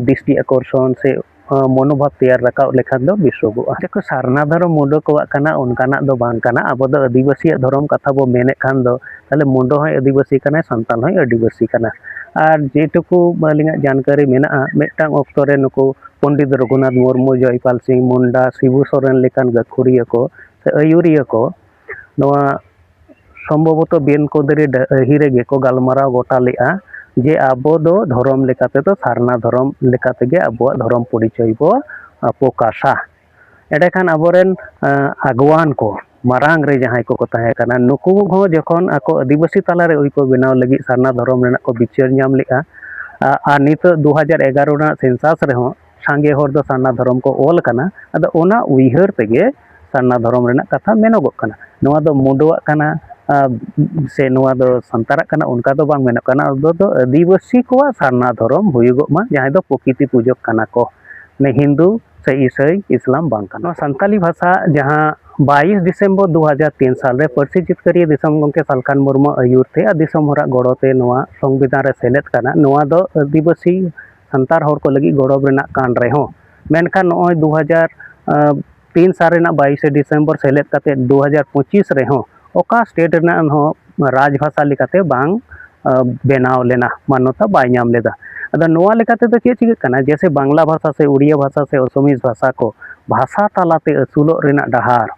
ᱫᱤᱥᱴᱤ ᱟᱠᱚᱨᱥᱚᱱ ᱥᱮ ᱢᱚᱱᱳᱵᱷᱟᱵ ᱛᱮᱭᱟᱨ ᱨᱟᱠᱟᱵ ᱞᱮᱠᱷᱟᱱ ᱫᱚ ᱵᱮᱥᱚᱜᱚᱜᱼᱟ ᱡᱮᱠᱚ ᱥᱟᱨᱱᱟ ᱫᱷᱚᱨᱚᱢ ᱢᱩᱰᱟᱹ ᱠᱚᱣᱟᱜ ᱠᱟᱱᱟ ᱚᱱᱠᱟᱱᱟᱜ ᱫᱚ ᱵᱟᱝ ᱠᱟᱱᱟ ᱟᱵᱚ ᱫᱚ ᱟᱹᱫᱤᱵᱟᱹᱥᱤᱭᱟᱜ ᱫᱷᱚᱨᱚᱢ ᱠᱟᱛᱷᱟ ᱵᱚ ᱢᱮᱱᱮᱫ ᱠᱷᱟᱱ ᱫᱚ ᱛᱟᱦᱞᱮ ᱢᱩᱰᱟᱹ ᱦᱚᱸᱭ ᱟᱹᱫᱤᱵᱟᱹᱥᱤ ᱠᱟᱱᱟᱭ ᱥᱟᱱᱛᱟᱲ ᱦᱚᱸᱭ ᱟᱹᱫᱤᱵᱟᱹᱥᱤ ᱠᱟᱱᱟ ᱟᱨ ᱡᱮᱴᱩᱠᱩ ᱟᱹᱞᱤᱧᱟᱜ ᱡᱟᱱᱠᱟᱨᱤ ᱢᱮᱱᱟᱜᱼᱟ ᱢᱤᱫᱴᱟᱝ ᱚᱠᱛᱚ ᱨᱮ ᱱᱩᱠᱩ ᱯᱚᱱᱰᱤᱛ ᱨᱚᱜᱷᱩᱱᱟᱛᱷ ᱢᱩᱨᱢᱩ ᱡᱚᱭᱯᱟᱞ ᱥᱤᱝ ᱢᱩᱱᱰᱟ ᱥᱤᱵᱩ ᱥᱚᱨᱮᱱ ᱞᱮᱠᱟᱱ ᱜᱟᱹᱠᱷᱩᱲᱤᱭᱟᱹ ᱠᱚ ᱥᱮ ᱟᱹᱭᱩᱨᱤᱭᱟᱹ ᱠᱚ ᱱᱚᱣᱟ ᱥᱚᱢᱵᱷᱚᱵᱚᱛᱚ ᱵᱤᱱ ᱠᱩᱸᱫᱽᱨᱤ ᱰᱟᱹᱦᱤ ᱨᱮᱜᱮ ᱠᱚ ᱜᱟᱞᱢᱟᱨᱟᱣ ᱜᱚᱴᱟ ᱞᱮᱫᱼᱟ ᱡᱮ ᱟᱵᱚ ᱫᱚ ᱫᱷᱚᱨᱚᱢ ᱞᱮᱠᱟ ᱛᱮᱫᱚ ᱥᱟᱨᱱᱟ ᱫᱷᱚᱨᱚᱢ ᱞᱮᱠᱟ ᱛᱮᱜᱮ ᱟᱵᱚᱣᱟᱜ ᱫᱷᱚᱨᱚᱢ ᱯᱚᱨᱤᱪᱚᱭ ᱵᱚ ᱯᱨᱚᱠᱟᱥᱟ ᱮᱸᱰᱮ ᱠᱷᱟᱱ ᱟᱵᱚ ᱨᱮᱱ ᱟᱜᱽᱣᱟᱱ ᱠᱚ ᱢᱟᱨᱟᱝ ᱨᱮ ᱡᱟᱦᱟᱸᱭ ᱠᱚᱠᱚ ᱛᱟᱦᱮᱸ ᱠᱟᱱᱟ ᱱᱩᱠᱩ ᱦᱚᱸ ᱡᱚᱠᱷᱚᱱ ᱟᱠᱚ ᱟᱹᱫᱤᱵᱟᱹᱥᱤ ᱛᱟᱞᱟ ᱨᱮ ᱟᱹᱭᱠᱟᱹᱣ ᱵᱮᱱᱟᱣ ᱞᱟᱹᱜᱤᱫ ᱥᱟᱨᱱᱟ ᱫᱷᱚᱨᱚᱢ ᱨᱮᱱᱟᱜ ᱠᱚ ᱵᱤᱪᱟᱹᱨ ᱧᱟᱢ ᱞᱮᱫᱼᱟ ᱟᱨ ᱱᱤᱛᱚᱜ ᱫᱩ ᱦᱟᱡᱟᱨ ᱮᱜᱟᱨᱚ ᱨᱮᱱᱟᱜ ᱥᱮᱱᱥᱟᱥ ᱨᱮᱦᱚᱸ ᱥᱟᱸᱜᱮ ᱦᱚᱲ ᱫᱚ ᱥᱟᱨᱱᱟ ᱫᱷᱚᱨᱚᱢ ᱠᱚ ᱚᱞ ᱠᱟᱱᱟ ᱟᱫᱚ ᱚᱱᱟ ᱩᱭᱦᱟᱹᱨ ᱛᱮᱜᱮ ᱥᱟᱨᱱᱟ ᱫᱷᱚᱨᱚᱢ ᱨᱮᱱᱟᱜ ᱠᱟᱛᱷᱟ ᱢᱮᱱᱚᱜᱚᱜ ᱠᱟᱱᱟ ᱱᱚᱣᱟ ᱫᱚ ᱢᱩᱰᱟᱹᱣᱟᱜ ᱠᱟᱱᱟ ᱥᱮ ᱱᱚᱣᱟ ᱫᱚ ᱥᱟᱱᱛᱟᱲᱟᱜ ᱠᱟᱱᱟ ᱚᱱᱠᱟ ᱫᱚ ᱵᱟᱝ ᱢᱮᱱᱚᱜ ᱠᱟᱱᱟ ᱚᱱᱟ ᱫᱚ ᱟᱹᱫᱤᱵᱟᱹᱥᱤ ᱠᱚᱣᱟᱜ ᱥᱟᱨᱱᱟ ᱫᱷᱚᱨᱚᱢ ᱦᱩᱭᱩᱜᱚᱜ ᱢᱟ ᱡᱟᱦᱟᱸᱭ ᱫᱚ ᱯᱨᱚᱠᱤᱛᱤ ᱯᱩᱡᱟᱹᱜ ᱠᱟᱱᱟ ᱠᱚ ᱢᱟᱱᱮ ᱦᱤᱱᱫᱩ ᱥᱮ ᱤᱥᱟᱹᱭ ᱤᱥᱞᱟᱢ ᱵᱟᱝ ᱠᱟᱱᱟ ᱱᱚᱣᱟ ᱥᱟᱱᱛᱟᱞᱤ ᱵᱷᱟᱥᱟ ᱡᱟᱦᱟᱸ ᱵᱟᱭᱤᱥ ᱰᱤᱥᱮᱢᱵᱚᱨ ᱫᱩ ᱦᱟᱡᱟᱨ ᱛᱤᱱ ᱥᱟᱞ ᱨᱮ ᱯᱟᱹᱨᱥᱤ ᱡᱤᱛᱠᱟᱹᱨᱤᱭᱟᱹ ᱫᱤᱥᱚᱢ ᱜᱚᱢᱠᱮ ᱥᱟᱞᱠᱷᱟᱱ ᱢᱩᱨᱢᱩ ᱟᱹᱭᱩᱨ ᱛᱮ ᱟᱨ ᱫᱤᱥᱚᱢ ᱦᱚᱲᱟᱜ ᱜᱚᱲᱚ ᱛᱮ ᱱᱚᱣᱟ ᱥᱚᱝᱵᱤᱫᱷᱟᱱ ᱨᱮ ᱥᱮᱞᱮᱫ ᱠᱟᱱᱟ ᱱᱚᱣᱟ ᱫᱚ ᱟᱹᱫᱤᱵᱟᱹᱥᱤ ᱥᱟᱱᱛᱟᱲ ᱦᱚᱲ ᱠᱚ ᱞᱟᱹᱜᱤᱫ ᱜᱚᱨᱚᱵᱽ ᱨᱮᱱᱟᱜ ᱠᱟᱱ ᱨᱮᱦᱚᱸ ᱢᱮᱱᱠᱷᱟᱱ ᱱᱚᱜᱼᱚᱭ ᱫᱩ ᱦᱟᱡᱟᱨ ᱛᱤᱱ ᱥᱟᱞ ᱨᱮᱱᱟᱜ ᱵᱟᱭᱤᱥᱮ ᱰᱤᱥᱮᱢᱵᱚᱨ ᱥᱮᱞᱮᱫ ᱠᱟᱛᱮᱫ ᱫᱩ ᱦᱟᱡᱟᱨ ᱯᱚᱸᱪᱤᱥ ᱨᱮᱦᱚᱸ ᱚᱠᱟ ᱥᱴᱮᱴ ᱨᱮᱱᱟᱜ ᱦᱚᱸ ᱨᱟᱡᱽ ᱵᱷᱟᱥᱟ ᱞᱮᱠᱟᱛᱮ ᱵᱟᱝ ᱵᱮᱱᱟᱣ ᱞᱮᱱᱟ ᱢᱟᱱᱱᱚᱛᱟ ᱵᱟᱭ ᱧᱟᱢ ᱞᱮᱫᱟ ᱟᱫᱚ ᱱᱚᱣᱟ ᱞᱮᱠᱟ ᱛᱮᱫᱚ ᱪᱮᱫ ᱪᱤᱠᱟᱹᱜ ᱠᱟᱱᱟ ᱡᱮᱭᱥᱮ ᱵᱟᱝᱞᱟ ᱵᱷᱟᱥᱟ ᱥᱮ ᱩᱲᱤᱭᱟ ᱵᱷᱟᱥᱟ ᱥᱮ ᱟᱥᱟᱢᱤᱡᱽ ᱵᱷᱟᱥᱟ ᱠᱚ ᱵᱷᱟᱥᱟ ᱛᱟᱞᱟᱛᱮ ᱟᱹᱥᱩᱞᱚᱜ ᱨᱮᱱᱟᱜ ᱰᱟᱦᱟᱨ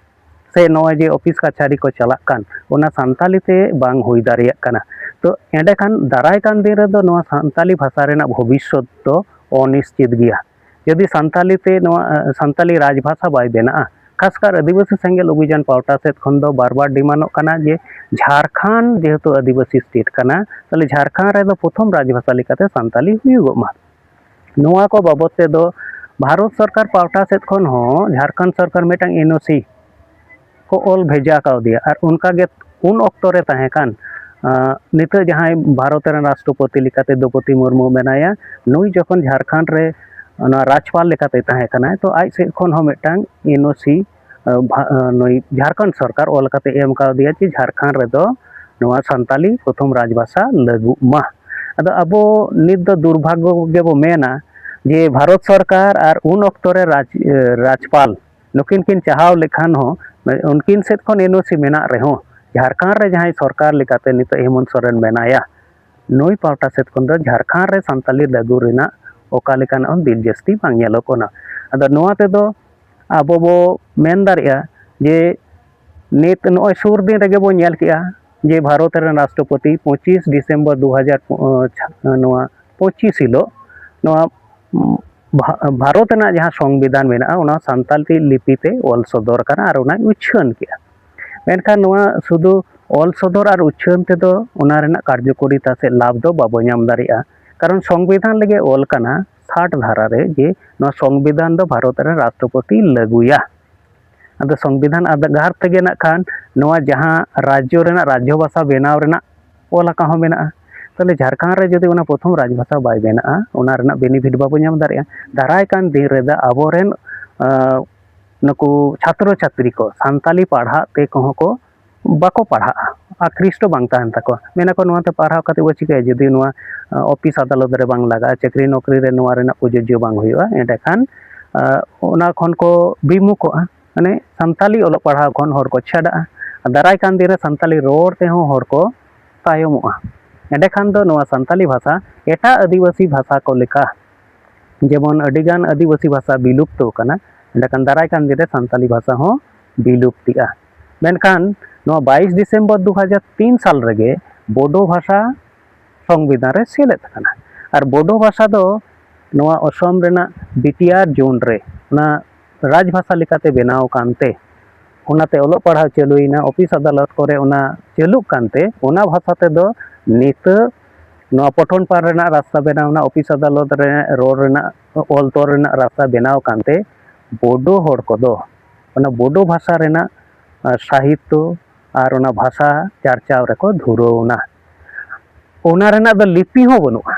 ᱥᱮ ᱱᱚᱜᱼᱚᱭ ᱡᱮ ᱚᱯᱷᱤᱥ ᱠᱟᱪᱷᱟᱨᱤ ᱠᱚ ᱪᱟᱞᱟᱜ ᱠᱟᱱ ᱚᱱᱟ ᱥᱟᱱᱛᱟᱞᱤ ᱛᱮ ᱵᱟᱝ ᱦᱩᱭ ᱫᱟᱲᱮᱭᱟᱜ ᱠᱟᱱᱟ ᱛᱚ ᱮᱸᱰᱮ ᱠᱷᱟᱱ ᱫᱟᱨᱟᱭ ᱠᱟᱱ ᱫᱤᱱ ᱨᱮᱫᱚ ᱱᱚᱣᱟ ᱥᱟᱱᱛᱟᱞᱤ ᱵᱷᱟᱥᱟ ᱨᱮᱱᱟᱜ ᱵᱷᱚᱵᱤᱥᱥᱚᱛ ᱫᱚ ᱚᱱᱤᱥᱪᱤᱛ ᱜᱮᱭᱟ ᱡᱩᱫᱤ ᱥᱟᱱᱛᱟᱞᱤ ᱛᱮ ᱱᱚᱣᱟ ᱥᱟᱱᱛᱟᱞᱤ ᱨᱟᱡᱽ ᱵᱷᱟᱥᱟ ᱵᱟᱭ ᱵᱮᱱᱟᱜᱼᱟ ᱠᱷᱟᱥᱠᱟᱨ ᱟᱹᱫᱤᱵᱟᱹᱥᱤ ᱥᱮᱸᱜᱮᱞ ᱚᱵᱷᱤᱡᱟᱱ ᱯᱟᱣᱴᱟ ᱥᱮᱫ ᱠᱷᱚᱱ ᱫᱚ ᱵᱟᱨ ᱵᱟᱨ ᱰᱤᱢᱟᱱᱚᱜ ᱠᱟᱱᱟ ᱡᱮ ᱡᱷᱟᱲᱠᱷᱚᱸᱰ ᱡᱮᱦᱮᱛᱩ ᱟᱹᱫᱤᱵᱟᱹᱥᱤ ᱥᱴᱮᱴ ᱠᱟᱱᱟ ᱛᱟᱦᱚᱞᱮ ᱡᱷᱟᱲᱠᱷᱚᱸᱰ ᱨᱮᱫᱚ ᱯᱨᱚᱛᱷᱚᱢ ᱨᱟᱡᱽ ᱵᱷᱟᱥᱟ ᱞᱮᱠᱟᱛᱮ ᱥᱟᱱᱛᱟᱞᱤ ᱦᱩᱭᱩᱜᱚᱜ ᱢᱟ ᱱᱚᱣᱟ ᱠᱚ ᱵᱟᱵᱚᱫ ᱛᱮᱫᱚ ᱵᱷᱟᱨᱚᱛ ᱥᱚᱨᱠᱟᱨ ᱯᱟᱦᱴᱟ ᱥᱮᱫ ᱠᱷᱚᱱ ᱦᱚᱸ ᱡᱷᱟᱲᱠᱷᱚᱸᱰ ᱥᱚᱨᱠᱟᱨ ᱢᱤᱫᱴᱟᱝ ᱮᱱ ᱳ ᱥᱤ ᱠᱚ ᱚᱞ ᱵᱷᱮᱡᱟ ᱠᱟᱣᱫᱮᱭᱟ ᱟᱨ ᱚᱱᱠᱟ ᱜᱮ ᱩᱱ ᱚᱠᱛᱚ ᱨᱮ ᱛᱟᱦᱮᱸ ᱠᱟᱱ ᱱᱤᱛᱚᱜ ᱡᱟᱦᱟᱸᱭ ᱵᱷᱟᱨᱚᱛ ᱨᱮᱱ ᱨᱟᱥᱴᱨᱚᱯᱚᱛᱤ ᱞᱮᱠᱟᱛᱮ ᱫᱨᱳᱣᱯᱚᱫᱤ ᱢᱩᱨᱢᱩ ᱢᱮᱱᱟᱭᱟ ᱱᱩᱭ ᱡᱚᱠᱷᱚᱱ ᱡᱷᱟᱲᱠᱷᱚᱸᱰ ᱨᱮ ᱚᱱᱟ ᱨᱟᱡᱽᱯᱟᱞ ᱞᱮᱠᱟᱛᱮ ᱛᱟᱦᱮᱸ ᱠᱟᱱᱟᱭ ᱛᱚ ᱟᱡ ᱥᱮᱫ ᱠᱷᱚᱱ ᱦᱚᱸ ᱢᱤᱫᱴᱟᱝ ᱮᱱ ᱳ ᱥᱤ ᱱᱩᱭ ᱡᱷᱟᱲᱠᱷᱚᱸᱰ ᱥᱚᱨᱠᱟᱨ ᱚᱞ ᱠᱟᱛᱮ ᱮᱢ ᱠᱟᱣᱫᱮᱭᱟ ᱡᱮ ᱡᱷᱟᱲᱠᱷᱚᱸᱰ ᱨᱮᱫᱚ ᱱᱚᱣᱟ ᱥᱟᱱᱛᱟᱞᱤ ᱯᱨᱚᱛᱷᱚᱢ ᱨᱟᱡᱽ ᱵᱷᱟᱥᱟ ᱞᱟᱹᱜᱩᱜ ᱢᱟ ᱟᱫᱚ ᱟᱵᱚ ᱱᱤᱛ ᱫᱚ ᱫᱩᱨᱵᱷᱟᱜᱽᱜᱚ ᱜᱮᱵᱚ ᱢᱮᱱᱟ ᱡᱮ ᱵᱷᱟᱨᱚᱛ ᱥᱚᱨᱠᱟᱨ ᱟᱨ ᱩᱱ ᱚᱠᱛᱚ ᱨᱮ ᱨᱟᱡᱽ ᱨᱟᱡᱽᱯᱟᱞ ᱱᱩᱠᱤᱱ ᱠᱤᱱ ᱪᱟᱦᱟᱣ ᱞᱮᱠᱷᱟᱱ ᱦᱚᱸ ᱩᱱᱠᱤᱱ ᱥᱮᱫ ᱠᱷᱚᱱ ᱮᱱ ᱳ ᱥᱤ ᱢᱮᱱᱟᱜ ᱨᱮᱦᱚᱸ ᱡᱷᱟᱲᱠᱷᱚᱸᱰ ᱨᱮ ᱡᱟᱦᱟᱸᱭ ᱥᱚᱨᱠᱟᱨ ᱞᱮᱠᱟᱛᱮ ᱱᱤᱛᱚᱜ ᱦᱮᱢᱚᱱᱛ ᱥᱚᱨᱮᱱ ᱢᱮᱱᱟᱭᱟ ᱱᱩᱭ ᱯᱟᱦᱴᱟ ᱥᱮᱫ ᱠᱷᱚᱱ ᱫᱚ ᱡᱷᱟᱲᱠᱷᱚᱸᱰ ᱨᱮ ᱥᱟᱱᱛᱟᱞᱤ ᱞᱟᱹᱜᱩ ᱨᱮᱱᱟᱜ ᱚᱠᱟ ᱞᱮᱠᱟᱱᱟᱜ ᱦᱚᱸ ᱵᱤᱞ ᱡᱟᱹᱥᱛᱤ ᱵᱟᱝ ᱧᱮᱞᱚᱜ ᱠᱟᱱᱟ ᱟᱫᱚ ᱱᱚᱣᱟ ᱛᱮᱫᱚ ᱟᱵᱚ ᱵᱚ ᱢᱮᱱ ᱫᱟᱲᱮᱭᱟᱜᱼᱟ ᱡᱮ ᱱᱤᱛ ᱱᱚᱜᱼᱚᱭ ᱥᱩᱨ ᱫᱤᱱ ᱨᱮᱜᱮ ᱵᱚᱱ ᱧᱮᱞ ᱠᱮᱜᱼᱟ ᱡᱮ ᱵᱷᱟᱨᱚᱛ ᱨᱮᱱ ᱨᱟᱥᱴᱨᱚᱯᱚᱛᱤ ᱯᱚᱸᱪᱤᱥ ᱰᱤᱥᱮᱢᱵᱚᱨ ᱫᱩ ᱦᱟᱡᱟᱨ ᱱᱚᱣᱟ ᱯᱚᱸᱪᱤᱥ ᱦᱤᱞᱳᱜ ᱱᱚᱣᱟ ᱵᱷᱟᱨᱚᱛ ᱨᱮᱱᱟᱜ ᱡᱟᱦᱟᱸ ᱥᱚᱝᱵᱤᱫᱷᱟᱱ ᱢᱮᱱᱟᱜᱼᱟ ᱚᱱᱟ ᱥᱟᱱᱛᱟᱲᱤ ᱞᱤᱯᱤ ᱛᱮ ᱚᱞ ᱥᱚᱫᱚᱨ ᱟᱠᱟᱱᱟ ᱟᱨ ᱚᱱᱟᱭ ᱩᱪᱷᱟᱹᱱ ᱠᱮᱜᱼᱟ ᱢᱮᱱᱠᱷᱟᱱ ᱱᱚᱣᱟ ᱥᱩᱫᱷᱩ ᱚᱞ ᱥᱚᱫᱚᱨ ᱟᱨ ᱩᱪᱷᱟᱹᱱ ᱛᱮᱫᱚ ᱚᱱᱟ ᱨᱮᱱᱟᱜ ᱠᱟᱨᱡᱚᱠᱚᱨᱤᱛᱟ ᱥᱮ ᱞᱟᱵᱷ ᱫᱚ ᱵᱟᱵᱚ ᱧᱟᱢ ᱫᱟᱲᱮᱭᱟᱜᱼᱟ ᱠᱟᱨᱚᱱ ᱥᱚᱝᱵᱤᱫᱷᱟᱱ ᱨᱮᱜᱮ ᱚᱞ ᱠᱟᱱᱟ ᱥᱟᱴ ᱫᱷᱟᱨᱟ ᱨᱮ ᱡᱮ ᱱᱚᱣᱟ ᱥᱚᱝᱵᱤᱫᱷᱟᱱ ᱫᱚ ᱵᱷᱟᱨᱚᱛ ᱨᱮᱱ ᱨᱟᱥᱴᱨᱚᱯᱚᱛᱤ ᱞᱟᱹᱜᱩᱭᱟ ᱟᱫᱚ ᱥᱚᱝᱵᱤᱫᱷᱟᱱ ᱟᱫᱷᱟᱨ ᱛᱮᱜᱮ ᱱᱟᱜ ᱠᱷᱟᱱ ᱱᱚᱣᱟ ᱡᱟᱦᱟᱸ ᱨᱟᱡᱽᱡᱚ ᱨᱮᱱᱟᱜ ᱨᱟᱡᱽᱡᱚ ᱵᱷᱟᱥᱟ ᱵᱮᱱᱟᱣ ᱨᱮᱱᱟᱜ ᱚᱞ ᱟᱠᱟᱱ ᱦᱚᱸ ᱢᱮᱱᱟᱜᱼᱟ ᱛᱟᱦᱚᱞᱮ ᱡᱷᱟᱲᱠᱷᱚᱸᱰ ᱨᱮ ᱡᱩᱫᱤ ᱚᱱᱟ ᱯᱨᱚᱛᱷᱚᱢ ᱨᱟᱡᱽ ᱵᱷᱟᱥᱟ ᱵᱟᱭ ᱵᱮᱱᱟᱜᱼᱟ ᱚᱱᱟ ᱨᱮᱱᱟᱜ ᱵᱮᱱᱤᱯᱷᱤᱴ ᱵᱟᱵᱚ ᱧᱟᱢ ᱫᱟᱲᱮᱭᱟᱜᱼᱟ ᱫᱟᱨᱟᱭ ᱠᱟᱱ ᱫᱤᱱ ᱨᱮᱫᱚ ᱟᱵᱚᱨᱮᱱ ᱱᱩᱠᱩ ᱪᱷᱟᱛᱨᱚ ᱪᱷᱟᱛᱨᱤ ᱠᱚ ᱥᱟᱱᱛᱟᱞᱤ ᱯᱟᱲᱦᱟᱜ ᱛᱮ ᱠᱚᱦᱚᱸ ᱠᱚ ᱵᱟᱠᱚ ᱯᱟᱲᱦᱟᱜᱼᱟ ᱟᱨ ᱯᱷᱤᱥ ᱫᱚ ᱵᱟᱝ ᱛᱟᱦᱮᱱ ᱛᱟᱠᱚᱣᱟ ᱢᱮᱱ ᱟᱠᱚ ᱱᱚᱣᱟᱛᱮ ᱯᱟᱲᱦᱟᱣ ᱠᱟᱛᱮᱫ ᱵᱚᱱ ᱪᱤᱠᱟᱹᱭᱟ ᱡᱩᱫᱤ ᱱᱚᱣᱟ ᱚᱯᱷᱤᱥ ᱟᱫᱟᱞᱚᱛ ᱨᱮ ᱵᱟᱝ ᱞᱟᱜᱟᱜᱼᱟ ᱪᱟᱹᱠᱨᱤ ᱱᱚᱠᱨᱤ ᱨᱮ ᱱᱚᱣᱟ ᱨᱮᱱᱟᱜ ᱯᱨᱚᱡᱳᱡᱡᱚ ᱵᱟᱝ ᱦᱩᱭᱩᱜᱼᱟ ᱮᱸᱰᱮ ᱠᱷᱟᱱ ᱚᱱᱟ ᱠᱷᱚᱱ ᱠᱚ ᱵᱤᱢᱩᱠᱷᱚᱜᱼᱟ ᱢᱟᱱᱮ ᱥᱟᱱᱛᱟᱲᱤ ᱚᱞᱚᱜ ᱯᱟᱲᱦᱟᱣ ᱠᱷᱚᱱ ᱦᱚᱲ ᱠᱚ ᱪᱷᱟᱰᱟᱜᱼᱟ ᱫᱟᱨᱟᱭ ᱠᱟᱱ ᱫᱤᱱ ᱨᱮ ᱥᱟᱱᱛᱟᱲᱤ ᱨᱚᱲ ᱛᱮᱦᱚᱸ ᱦᱚᱲ ᱠᱚ ᱛᱟᱭᱚᱢᱚᱜᱼᱟ ᱮᱸᱰᱮ ᱠᱷᱟᱱ ᱫᱚ ᱱᱚᱣᱟ ᱥᱟᱱᱛᱟᱲᱤ ᱵᱷᱟᱥᱟ ᱮᱴᱟᱜ ᱟᱹᱫᱤᱵᱟᱹᱥᱤ ᱵᱷᱟᱥᱟ ᱠᱚ ᱞᱮᱠᱟ ᱡᱮᱢᱚᱱ ᱟᱹᱰᱤ ᱜᱟᱱ ᱟᱹᱫᱤᱵᱟᱹᱥᱤ ᱵᱷᱟᱥᱟ ᱵᱤᱞᱩᱯᱛᱚ ᱟᱠᱟᱱᱟ ᱮᱸᱰᱮ ᱠᱷᱟᱱ ᱫᱟᱨᱟᱭ ᱠᱟᱱ ᱫᱤᱱ ᱨᱮ ᱥᱟᱱᱛᱟᱲᱤ ᱵᱷᱟᱥᱟ ᱦᱚᱸ ᱵᱤᱞᱩᱯᱛᱤᱜᱼᱟ ᱢᱮᱱᱠᱷᱟᱱ ᱱᱚᱣᱟ ᱵᱟᱭᱤᱥ ᱰᱤᱥᱮᱢᱵᱚᱨ ᱫᱩ ᱦᱟᱡᱟᱨ ᱛᱤᱱ ᱥᱟᱞ ᱨᱮᱜᱮ ᱵᱳᱰᱳ ᱵᱷᱟᱥᱟ ᱥᱚᱝᱵᱤᱫᱷᱟᱱ ᱨᱮ ᱥᱮᱞᱮᱫ ᱟᱠᱟᱱᱟ ᱟᱨ ᱵᱳᱰᱳ ᱵᱷᱟᱥᱟ ᱫᱚ ᱱᱚᱣᱟ ᱚᱥᱚᱢ ᱨᱮᱱᱟᱜ ᱵᱤᱴᱤᱭᱟᱨ ᱡᱳᱱ ᱨᱮ ᱚᱱᱟ ᱨᱟᱡᱽ ᱵᱷᱟᱥᱟ ᱞᱮᱠᱟᱛᱮ ᱵᱮᱱᱟᱣ ᱟᱠᱟᱱᱛᱮ ᱚᱱᱟᱛᱮ ᱚᱞᱚᱜ ᱯᱟᱲᱦᱟᱣ ᱪᱟᱹᱞᱩᱭᱮᱱᱟ ᱚᱯᱷᱤᱥ ᱟᱫᱟᱞᱚᱛ ᱠᱚᱨᱮ ᱚᱱᱟ ᱪᱟᱹᱞᱩᱜ ᱠᱟᱱᱛᱮ ᱚᱱᱟ ᱵᱷᱟᱥᱟ ᱛᱮᱫᱚ ᱱᱤᱛᱚᱜ ᱱᱚᱣᱟ ᱯᱚᱴᱷᱚᱱ ᱯᱟᱲ ᱨᱮᱱᱟᱜ ᱨᱟᱥᱛᱟ ᱵᱮᱱᱟᱣᱱᱟ ᱚᱯᱷᱤᱥ ᱟᱫᱟᱞᱚᱛ ᱨᱮ ᱨᱚᱲ ᱨᱮᱱᱟᱜ ᱚᱞ ᱛᱚᱞ ᱨᱮᱱᱟᱜ ᱨᱟᱥᱛᱟ ᱵᱮᱱᱟᱣ ᱟᱠᱟᱱᱛᱮ ᱵᱳᱰᱳ ᱦᱚᱲ ᱠᱚᱫᱚ ᱚᱱᱟ ᱵᱳᱰᱳ ᱵᱷᱟᱥᱟ ᱨᱮᱱᱟᱜ ᱥᱟᱦᱤᱛᱛᱚ ᱟᱨ ᱚᱱᱟ ᱵᱷᱟᱥᱟ ᱪᱟᱨᱪᱟᱣ ᱨᱮᱠᱚ ᱫᱷᱩᱨᱟᱹᱣ ᱮᱱᱟ ᱚᱱᱟ ᱨᱮᱱᱟᱜ ᱫᱚ ᱞᱤᱯᱤ ᱦᱚᱸ ᱵᱟᱹᱱᱩᱜᱼᱟ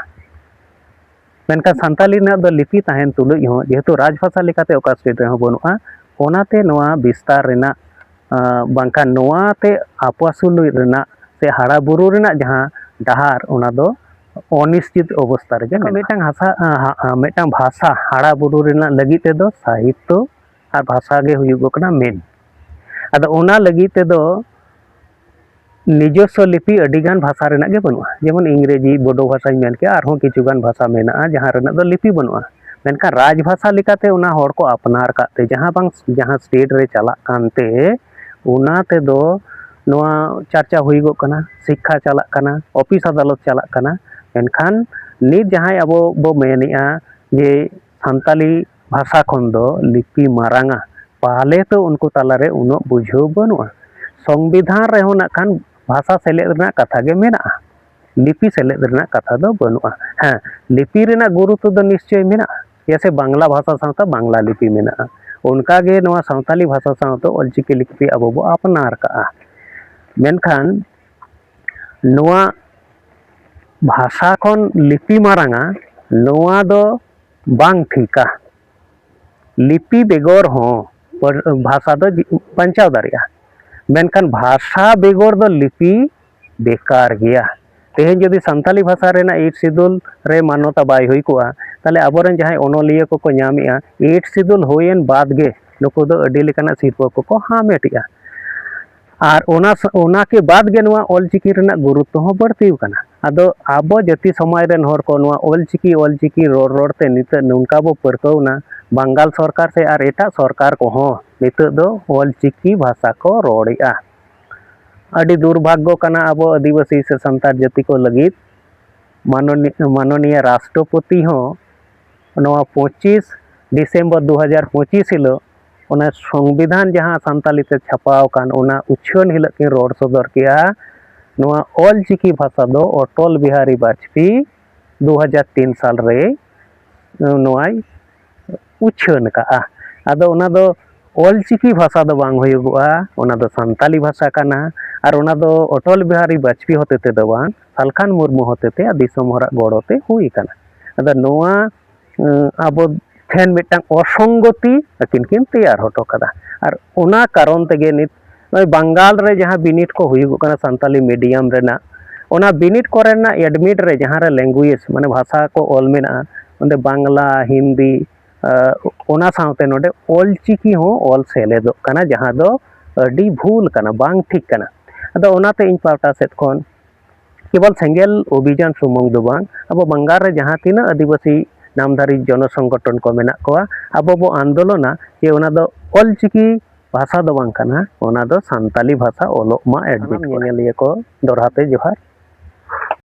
ᱢᱮᱱᱠᱷᱟᱱ ᱥᱟᱱᱛᱟᱞᱤ ᱨᱮᱱᱟᱜ ᱫᱚ ᱞᱤᱯᱤ ᱛᱟᱦᱮᱱ ᱛᱩᱞᱩᱡ ᱦᱚᱸ ᱡᱮᱦᱮᱛᱩ ᱨᱟᱡᱽ ᱵᱷᱟᱥᱟ ᱞᱮᱠᱟᱛᱮ ᱚᱠᱟ ᱥᱴᱮᱴ ᱨᱮᱦᱚᱸ ᱵᱟᱹᱱᱩᱜᱼᱟ ᱚᱱᱟᱛᱮ ᱱᱚᱣᱟ ᱵᱤᱥᱛᱟᱨ ᱨᱮᱱᱟᱜ ᱵᱟᱝᱠᱷᱟᱱ ᱱᱚᱣᱟᱛᱮ ᱟᱯᱟᱥᱩᱞ ᱨᱮᱱᱟᱜ ᱥᱮ ᱦᱟᱨᱟ ᱵᱩᱨᱩ ᱨᱮᱱᱟᱜ ᱡᱟᱦᱟᱸ ᱰᱟᱦᱟᱨ ᱚᱱᱟ ᱫᱚ ᱚᱱᱤᱥᱪᱤᱛ ᱚᱵᱚᱥᱛᱟ ᱨᱮᱜᱮ ᱢᱤᱫᱴᱟᱝ ᱦᱟᱥᱟ ᱢᱤᱫᱴᱟᱝ ᱵᱷᱟᱥᱟ ᱦᱟᱨᱟ ᱵᱩᱨᱩ ᱨᱮᱱᱟᱜ ᱞᱟᱹᱜᱤᱫ ᱛᱮᱫᱚ ᱥᱟᱦᱤᱛᱛᱚ ᱟᱨ ᱵᱷᱟᱥᱟ ᱜᱮ ᱦᱩᱭᱩᱜ ᱠᱟᱱᱟ ᱢᱮᱱ ᱟᱫᱚ ᱚᱱᱟ ᱞᱟᱹᱜᱤᱫ ᱛᱮᱫᱚ ᱱᱤᱡᱚᱥᱥᱚ ᱞᱤᱯᱤ ᱟᱹᱰᱤᱜᱟᱱ ᱵᱷᱟᱥᱟ ᱨᱮᱱᱟᱜ ᱜᱮ ᱵᱟᱹᱱᱩᱜᱼᱟ ᱡᱮᱢᱚᱱ ᱤᱝᱨᱮᱡᱤ ᱵᱳᱰᱳ ᱵᱷᱟᱥᱟᱧ ᱢᱮᱱ ᱠᱮᱜᱼᱟ ᱟᱨᱦᱚᱸ ᱠᱤᱪᱷᱩᱜᱟᱱ ᱵᱷᱟᱥᱟ ᱢᱮᱱᱟᱜᱼᱟ ᱡᱟᱦᱟᱸ ᱨᱮᱱᱟᱜ ᱫᱚ ᱞᱤᱯᱤ ᱵᱟᱹᱱᱩᱜᱼᱟ ᱢᱮᱱᱠᱷᱟᱱ ᱨᱟᱡᱽ ᱵᱷᱟᱥᱟ ᱞᱮᱠᱟᱛᱮ ᱚᱱᱟ ᱦᱚᱲ ᱠᱚ ᱟᱯᱱᱟᱨ ᱠᱟᱜ ᱛᱮ ᱡᱟᱦᱟᱸ ᱵᱟᱝ ᱡᱟᱦᱟᱸ ᱥᱴᱮᱴ ᱨᱮ ᱪᱟᱞᱟᱜ ᱠᱟᱱᱛᱮ ᱚᱱᱟ ᱛᱮᱫᱚ ᱱᱚᱣᱟ ᱪᱟᱨᱪᱟ ᱦᱩᱭᱩᱜᱚᱜ ᱠᱟᱱᱟ ᱥᱤᱠᱠᱷᱟ ᱪᱟᱞᱟᱜ ᱠᱟᱱᱟ ᱚᱯᱷᱤᱥ ᱟᱫᱟᱞᱚᱛ ᱪᱟᱞᱟᱜ ᱠᱟᱱᱟ ᱢᱮᱱᱠᱷᱟᱱ ᱱᱤᱛ ᱡᱟᱦᱟᱸᱭ ᱟᱵᱚ ᱵᱚ ᱢᱮᱱᱮᱜᱼᱟ ᱡᱮ ᱥᱟᱱᱛᱟᱞᱤ ᱵᱷᱟᱥᱟ ᱠᱷᱚᱱ ᱫᱚ ᱞᱤᱯᱤ ᱢᱟᱨᱟᱝᱟ ᱯᱟᱞᱮ ᱛᱚ ᱩᱱᱠᱩ ᱛᱟᱞᱟᱨᱮ ᱩᱱᱟᱹᱜ ᱵᱩᱡᱷᱟᱹᱣ ᱵᱟᱹᱱᱩᱜᱼᱟ ᱥᱚᱝᱵᱤᱫᱷᱟᱱ ᱨᱮᱦᱚᱸ ᱱᱟᱜ ᱠᱷᱟᱱ ᱵᱷᱟᱥᱟ ᱥᱮᱞᱮᱫ ᱨᱮᱱᱟᱜ ᱠᱟᱛᱷᱟ ᱜᱮ ᱢᱮᱱᱟᱜᱼᱟ ᱞᱤᱯᱤ ᱥᱮᱞᱮᱫ ᱨᱮᱱᱟᱜ ᱠᱟᱛᱷᱟ ᱫᱚ ᱵᱟᱹᱱᱩᱜᱼᱟ ᱦᱮᱸ ᱞᱤᱯᱤ ᱨᱮᱱᱟᱜ ᱜᱩᱨᱩᱛᱛᱚ ᱫᱚ ᱱᱤᱥᱪᱚᱭ ᱢᱮᱱᱟᱜᱼᱟ ᱪᱮᱫᱟᱜ ᱥᱮ ᱵᱟᱝᱞᱟ ᱵᱷᱟᱥᱟ ᱥᱟᱶᱛᱮ ᱵᱟᱝᱞᱟ ᱞᱤᱯᱤ ᱢᱮᱱᱟᱜᱼᱟ ᱚᱱᱠᱟᱜᱮ ᱱᱚᱣᱟ ᱥᱟᱱᱛᱟᱞᱤ ᱵᱷᱟᱥᱟ ᱥᱟᱶᱛᱮ ᱚᱞᱪᱤᱠᱤ ᱞᱤᱯᱤ ᱟᱵᱚ ᱵᱚ ᱟᱯᱱᱟᱨ ᱠᱟᱜᱼᱟ ᱢᱮᱱᱠᱷᱟᱱ ᱱᱚᱣᱟ ᱵᱷᱟᱥᱟ ᱠᱷᱚᱱ ᱞᱤᱯᱤ ᱢᱟᱨᱟᱝᱟ ᱱᱚᱣᱟ ᱫᱚ ᱵᱟᱝ ᱴᱷᱤᱠᱟ ᱞᱤᱯᱤ ᱵᱮᱜᱚᱨ ᱦᱚᱸ ᱵᱷᱟᱥᱟ ᱫᱚ ᱵᱟᱧᱪᱟᱣ ᱫᱟᱲᱮᱭᱟᱜᱼᱟ ᱢᱮᱱᱠᱷᱟᱱ ᱵᱷᱟᱥᱟ ᱵᱮᱜᱚᱨ ᱫᱚ ᱞᱤᱯᱤ ᱵᱮᱠᱟᱨ ᱜᱮᱭᱟ ᱛᱮᱦᱮᱧ ᱡᱩᱫᱤ ᱥᱟᱱᱛᱟᱞᱤ ᱵᱷᱟᱥᱟ ᱨᱮᱱᱟᱜ ᱮᱭᱤᱴ ᱥᱤᱫᱩᱞ ᱨᱮ ᱢᱟᱱᱚᱛᱟ ᱵᱟᱭ ᱦᱩᱭ ᱠᱚᱜᱼᱟ ᱛᱟᱦᱚᱞᱮ ᱟᱵᱚᱨᱮᱱ ᱡᱟᱦᱟᱸᱭ ᱚᱱᱚᱞᱤᱭᱟᱹ ᱠᱚᱠᱚ ᱧᱟᱢᱮᱜᱼᱟ ᱮᱭᱤᱴ ᱥᱤᱫᱩᱞ ᱦᱩᱭᱮᱱ ᱵᱟᱫᱽ ᱜᱮ ᱱᱩᱠᱩ ᱫᱚ ᱟᱹᱰᱤ ᱞᱮᱠᱟᱱᱟᱜ ᱥᱤᱨᱯᱟᱹ ᱠᱚᱠᱚ ᱦᱟᱢᱮᱴᱮᱜᱼᱟ ᱟᱨ ᱚᱱᱟ ᱚᱱᱟ ᱠᱮ ᱵᱟᱫ ᱜᱮ ᱱᱚᱣᱟ ᱚᱞᱪᱤᱠᱤ ᱨᱮᱱᱟᱜ ᱜᱩᱨᱩᱛᱛᱚ ᱦᱚᱸ ᱵᱟᱹᱲᱛᱤ ᱟᱠᱟᱱᱟ ᱟᱫᱚ ᱟᱵᱚ ᱡᱟᱹᱛᱤ ᱥᱚᱢᱟᱡᱽ ᱨᱮᱱ ᱦᱚᱲ ᱠᱚ ᱱᱚᱣᱟ ᱚᱞᱪᱤᱠᱤ ᱚᱞᱪᱤᱠᱤ ᱨᱚᱲ ᱨᱚᱲ ᱛᱮ ᱱᱤᱛᱚᱜ ᱱᱚᱝᱠᱟ ᱵᱚ ᱯᱟᱹᱨᱠᱟᱹᱣᱱᱟ ᱵᱟᱝᱜᱟᱞ ᱥᱚᱨᱠᱟᱨ ᱥᱮ ᱟᱨ ᱮᱴᱟᱜ ᱥᱚᱨᱠᱟᱨ ᱠᱚᱦᱚᱸ ᱱᱤᱛᱚᱜ ᱫᱚ ᱚᱞᱪᱤᱠᱤ ᱵᱷᱟᱥᱟ ᱠᱚ ᱨᱚᱲᱮᱜᱼᱟ ᱟᱹᱰᱤ ᱫᱩᱨᱵᱷᱟᱜᱽᱜᱚ ᱠᱟᱱᱟ ᱟᱵᱚ ᱟᱹᱫᱤᱵᱟᱹᱥᱤ ᱥᱮ ᱥᱟᱱᱛᱟᱲ ᱡᱟᱹᱛᱤ ᱠᱚ ᱞᱟᱹᱜᱤᱫ ᱢᱟᱱᱚᱱᱤᱭᱟ ᱢᱟᱱᱚᱱᱤᱭᱟ ᱨᱟᱥᱴᱨᱚᱯᱚᱛᱤ ᱦᱚᱸ ᱱᱚᱣᱟ ᱯᱚᱸᱪᱤᱥ ᱰᱤᱥᱮᱢᱵᱚᱨ ᱫᱩ ᱦᱟᱡᱟᱨ ᱯᱚᱸᱪᱤᱥ ᱦᱤᱞᱳᱜ ᱚᱱᱟ ᱥᱚᱝᱵᱤᱫᱷᱟᱱ ᱡᱟᱦᱟᱸ ᱥᱟᱱᱛᱟᱞᱤ ᱛᱮ ᱪᱷᱟᱯᱟᱣ ᱟᱠᱟᱱ ᱚᱱᱟ ᱩᱪᱷᱟᱹᱱ ᱦᱤᱞᱳᱜ ᱠᱤᱱ ᱨᱚᱲ ᱥᱚᱫᱚᱨ ᱠᱮᱜᱼᱟ ᱱᱚᱣᱟ ᱚᱞ ᱪᱤᱠᱤ ᱵᱷᱟᱥᱟ ᱫᱚ ᱚᱴᱚᱞ ᱵᱤᱦᱟᱨᱤ ᱵᱟᱡᱽᱯᱮᱭᱤ ᱫᱩ ᱦᱟᱡᱟᱨ ᱛᱤᱱ ᱥᱟᱞ ᱨᱮ ᱱᱚᱣᱟᱭ ᱩᱪᱷᱟᱹᱱ ᱟᱠᱟᱫᱼᱟ ᱟᱫᱚ ᱚᱱᱟ ᱫᱚ ᱚᱞ ᱪᱤᱠᱤ ᱵᱷᱟᱥᱟ ᱫᱚ ᱵᱟᱝ ᱦᱩᱭᱩᱜᱚᱜᱼᱟ ᱚᱱᱟ ᱫᱚ ᱥᱟᱱᱛᱟᱞᱤ ᱵᱷᱟᱥᱟ ᱠᱟᱱᱟ ᱟᱨ ᱚᱱᱟ ᱫᱚ ᱚᱴᱚᱞ ᱵᱤᱦᱟᱨᱤ ᱵᱟᱡᱽᱯᱮᱭᱤ ᱦᱚᱛᱮ ᱛᱮᱫᱚ ᱵᱟᱝ ᱥᱟᱞᱠᱷᱟᱱ ᱢᱩᱨᱢᱩ ᱦᱚᱛᱮ ᱛᱮ ᱫᱤᱥᱚᱢ ᱦᱚᱲᱟᱜ ᱜᱚᱲᱚ ᱛᱮ ᱦᱩᱭ ᱟᱠᱟᱱᱟ ᱟᱫᱚ ᱱᱚᱣᱟ ᱟᱵᱚ ᱴᱷᱮᱱ ᱢᱤᱫᱴᱟᱱ ᱚᱥᱚᱝᱜᱚᱛᱤ ᱟᱹᱠᱤᱱ ᱠᱤᱱ ᱛᱮᱭᱟᱨ ᱦᱚᱴᱚ ᱠᱟᱫᱟ ᱟᱨ ᱚᱱᱟ ᱠᱟᱨᱚᱱ ᱛᱮᱜᱮ ᱱᱤᱛ ᱱᱚᱜᱼᱚᱭ ᱵᱟᱝᱜᱟᱞ ᱨᱮ ᱡᱟᱦᱟᱸ ᱵᱤᱱᱤᱰ ᱠᱚ ᱦᱩᱭᱩᱜᱚᱜ ᱠᱟᱱᱟ ᱥᱟᱱᱛᱟᱞᱤ ᱢᱤᱰᱤᱭᱟᱢ ᱨᱮᱱᱟᱜ ᱚᱱᱟ ᱵᱤᱱᱤᱰ ᱠᱚᱨᱮᱱᱟᱜ ᱮᱰᱢᱤᱴ ᱨᱮ ᱡᱟᱦᱟᱸ ᱨᱮ ᱞᱮᱝᱜᱩᱭᱮᱡᱽ ᱢᱟᱱᱮ ᱵᱷᱟᱥᱟ ᱠᱚ ᱚᱞ ᱢᱮᱱᱟᱜᱼᱟ ᱚᱸᱰᱮ ᱵᱟᱝᱞᱟ ᱦᱤᱱᱫᱤ ᱚᱱᱟ ᱥᱟᱶᱛᱮ ᱱᱚᱰᱮ ᱚᱞ ᱪᱤᱠᱤ ᱦᱚᱸ ᱚᱞ ᱥᱮᱞᱮᱫᱚᱜ ᱠᱟᱱᱟ ᱡᱟᱦᱟᱸ ᱫᱚ ᱟᱹᱰᱤ ᱵᱷᱩᱞ ᱠᱟᱱᱟ ᱵᱟᱝ ᱴᱷᱤᱠ ᱠᱟᱱᱟ ᱟᱫᱚ ᱚᱱᱟᱛᱮ ᱤᱧ ᱯᱟᱦᱴᱟ ᱥᱮᱫ ᱠᱷᱚᱱ ᱠᱮᱵᱚᱞ ᱥᱮᱸᱜᱮᱞ ᱚᱵᱷᱤᱡᱟᱱ ᱥᱩᱢᱩᱝ ᱫᱚ ᱵᱟᱝ ᱟᱵᱚ ᱵᱟᱝᱜᱟᱞ ᱨᱮ ᱡᱟᱦᱟᱸ ᱛᱤᱱᱟᱹᱜ ᱟᱹᱫᱤᱵᱟᱹᱥᱤ ᱱᱟᱢᱫᱷᱟᱨᱤ ᱡᱚᱱᱚ ᱥᱚᱝᱜᱚᱴᱷᱚᱱ ᱠᱚ ᱢᱮᱱᱟᱜ ᱠᱚᱣᱟ ᱟᱵᱚ ᱵᱚ ᱟᱱᱫᱳᱞᱚᱱᱟ ᱡᱮ ᱚᱱᱟ ᱫᱚ ᱚᱞ ᱪᱤᱠᱤ ᱵᱷᱟᱥᱟ ᱫᱚ ᱵᱟᱝ ᱠᱟᱱᱟ ᱚᱱᱟ ᱫᱚ ᱥᱟᱱᱛᱟᱞᱤ ᱵᱷᱟᱥᱟ ᱚᱞᱚᱜ ᱢᱟ ᱮᱰᱵᱷᱤᱴ ᱧᱮᱧᱮᱞᱤᱭᱟᱹ ᱠᱚ ᱫᱚᱲᱦᱟ ᱛᱮ ᱡᱚᱦᱟᱨ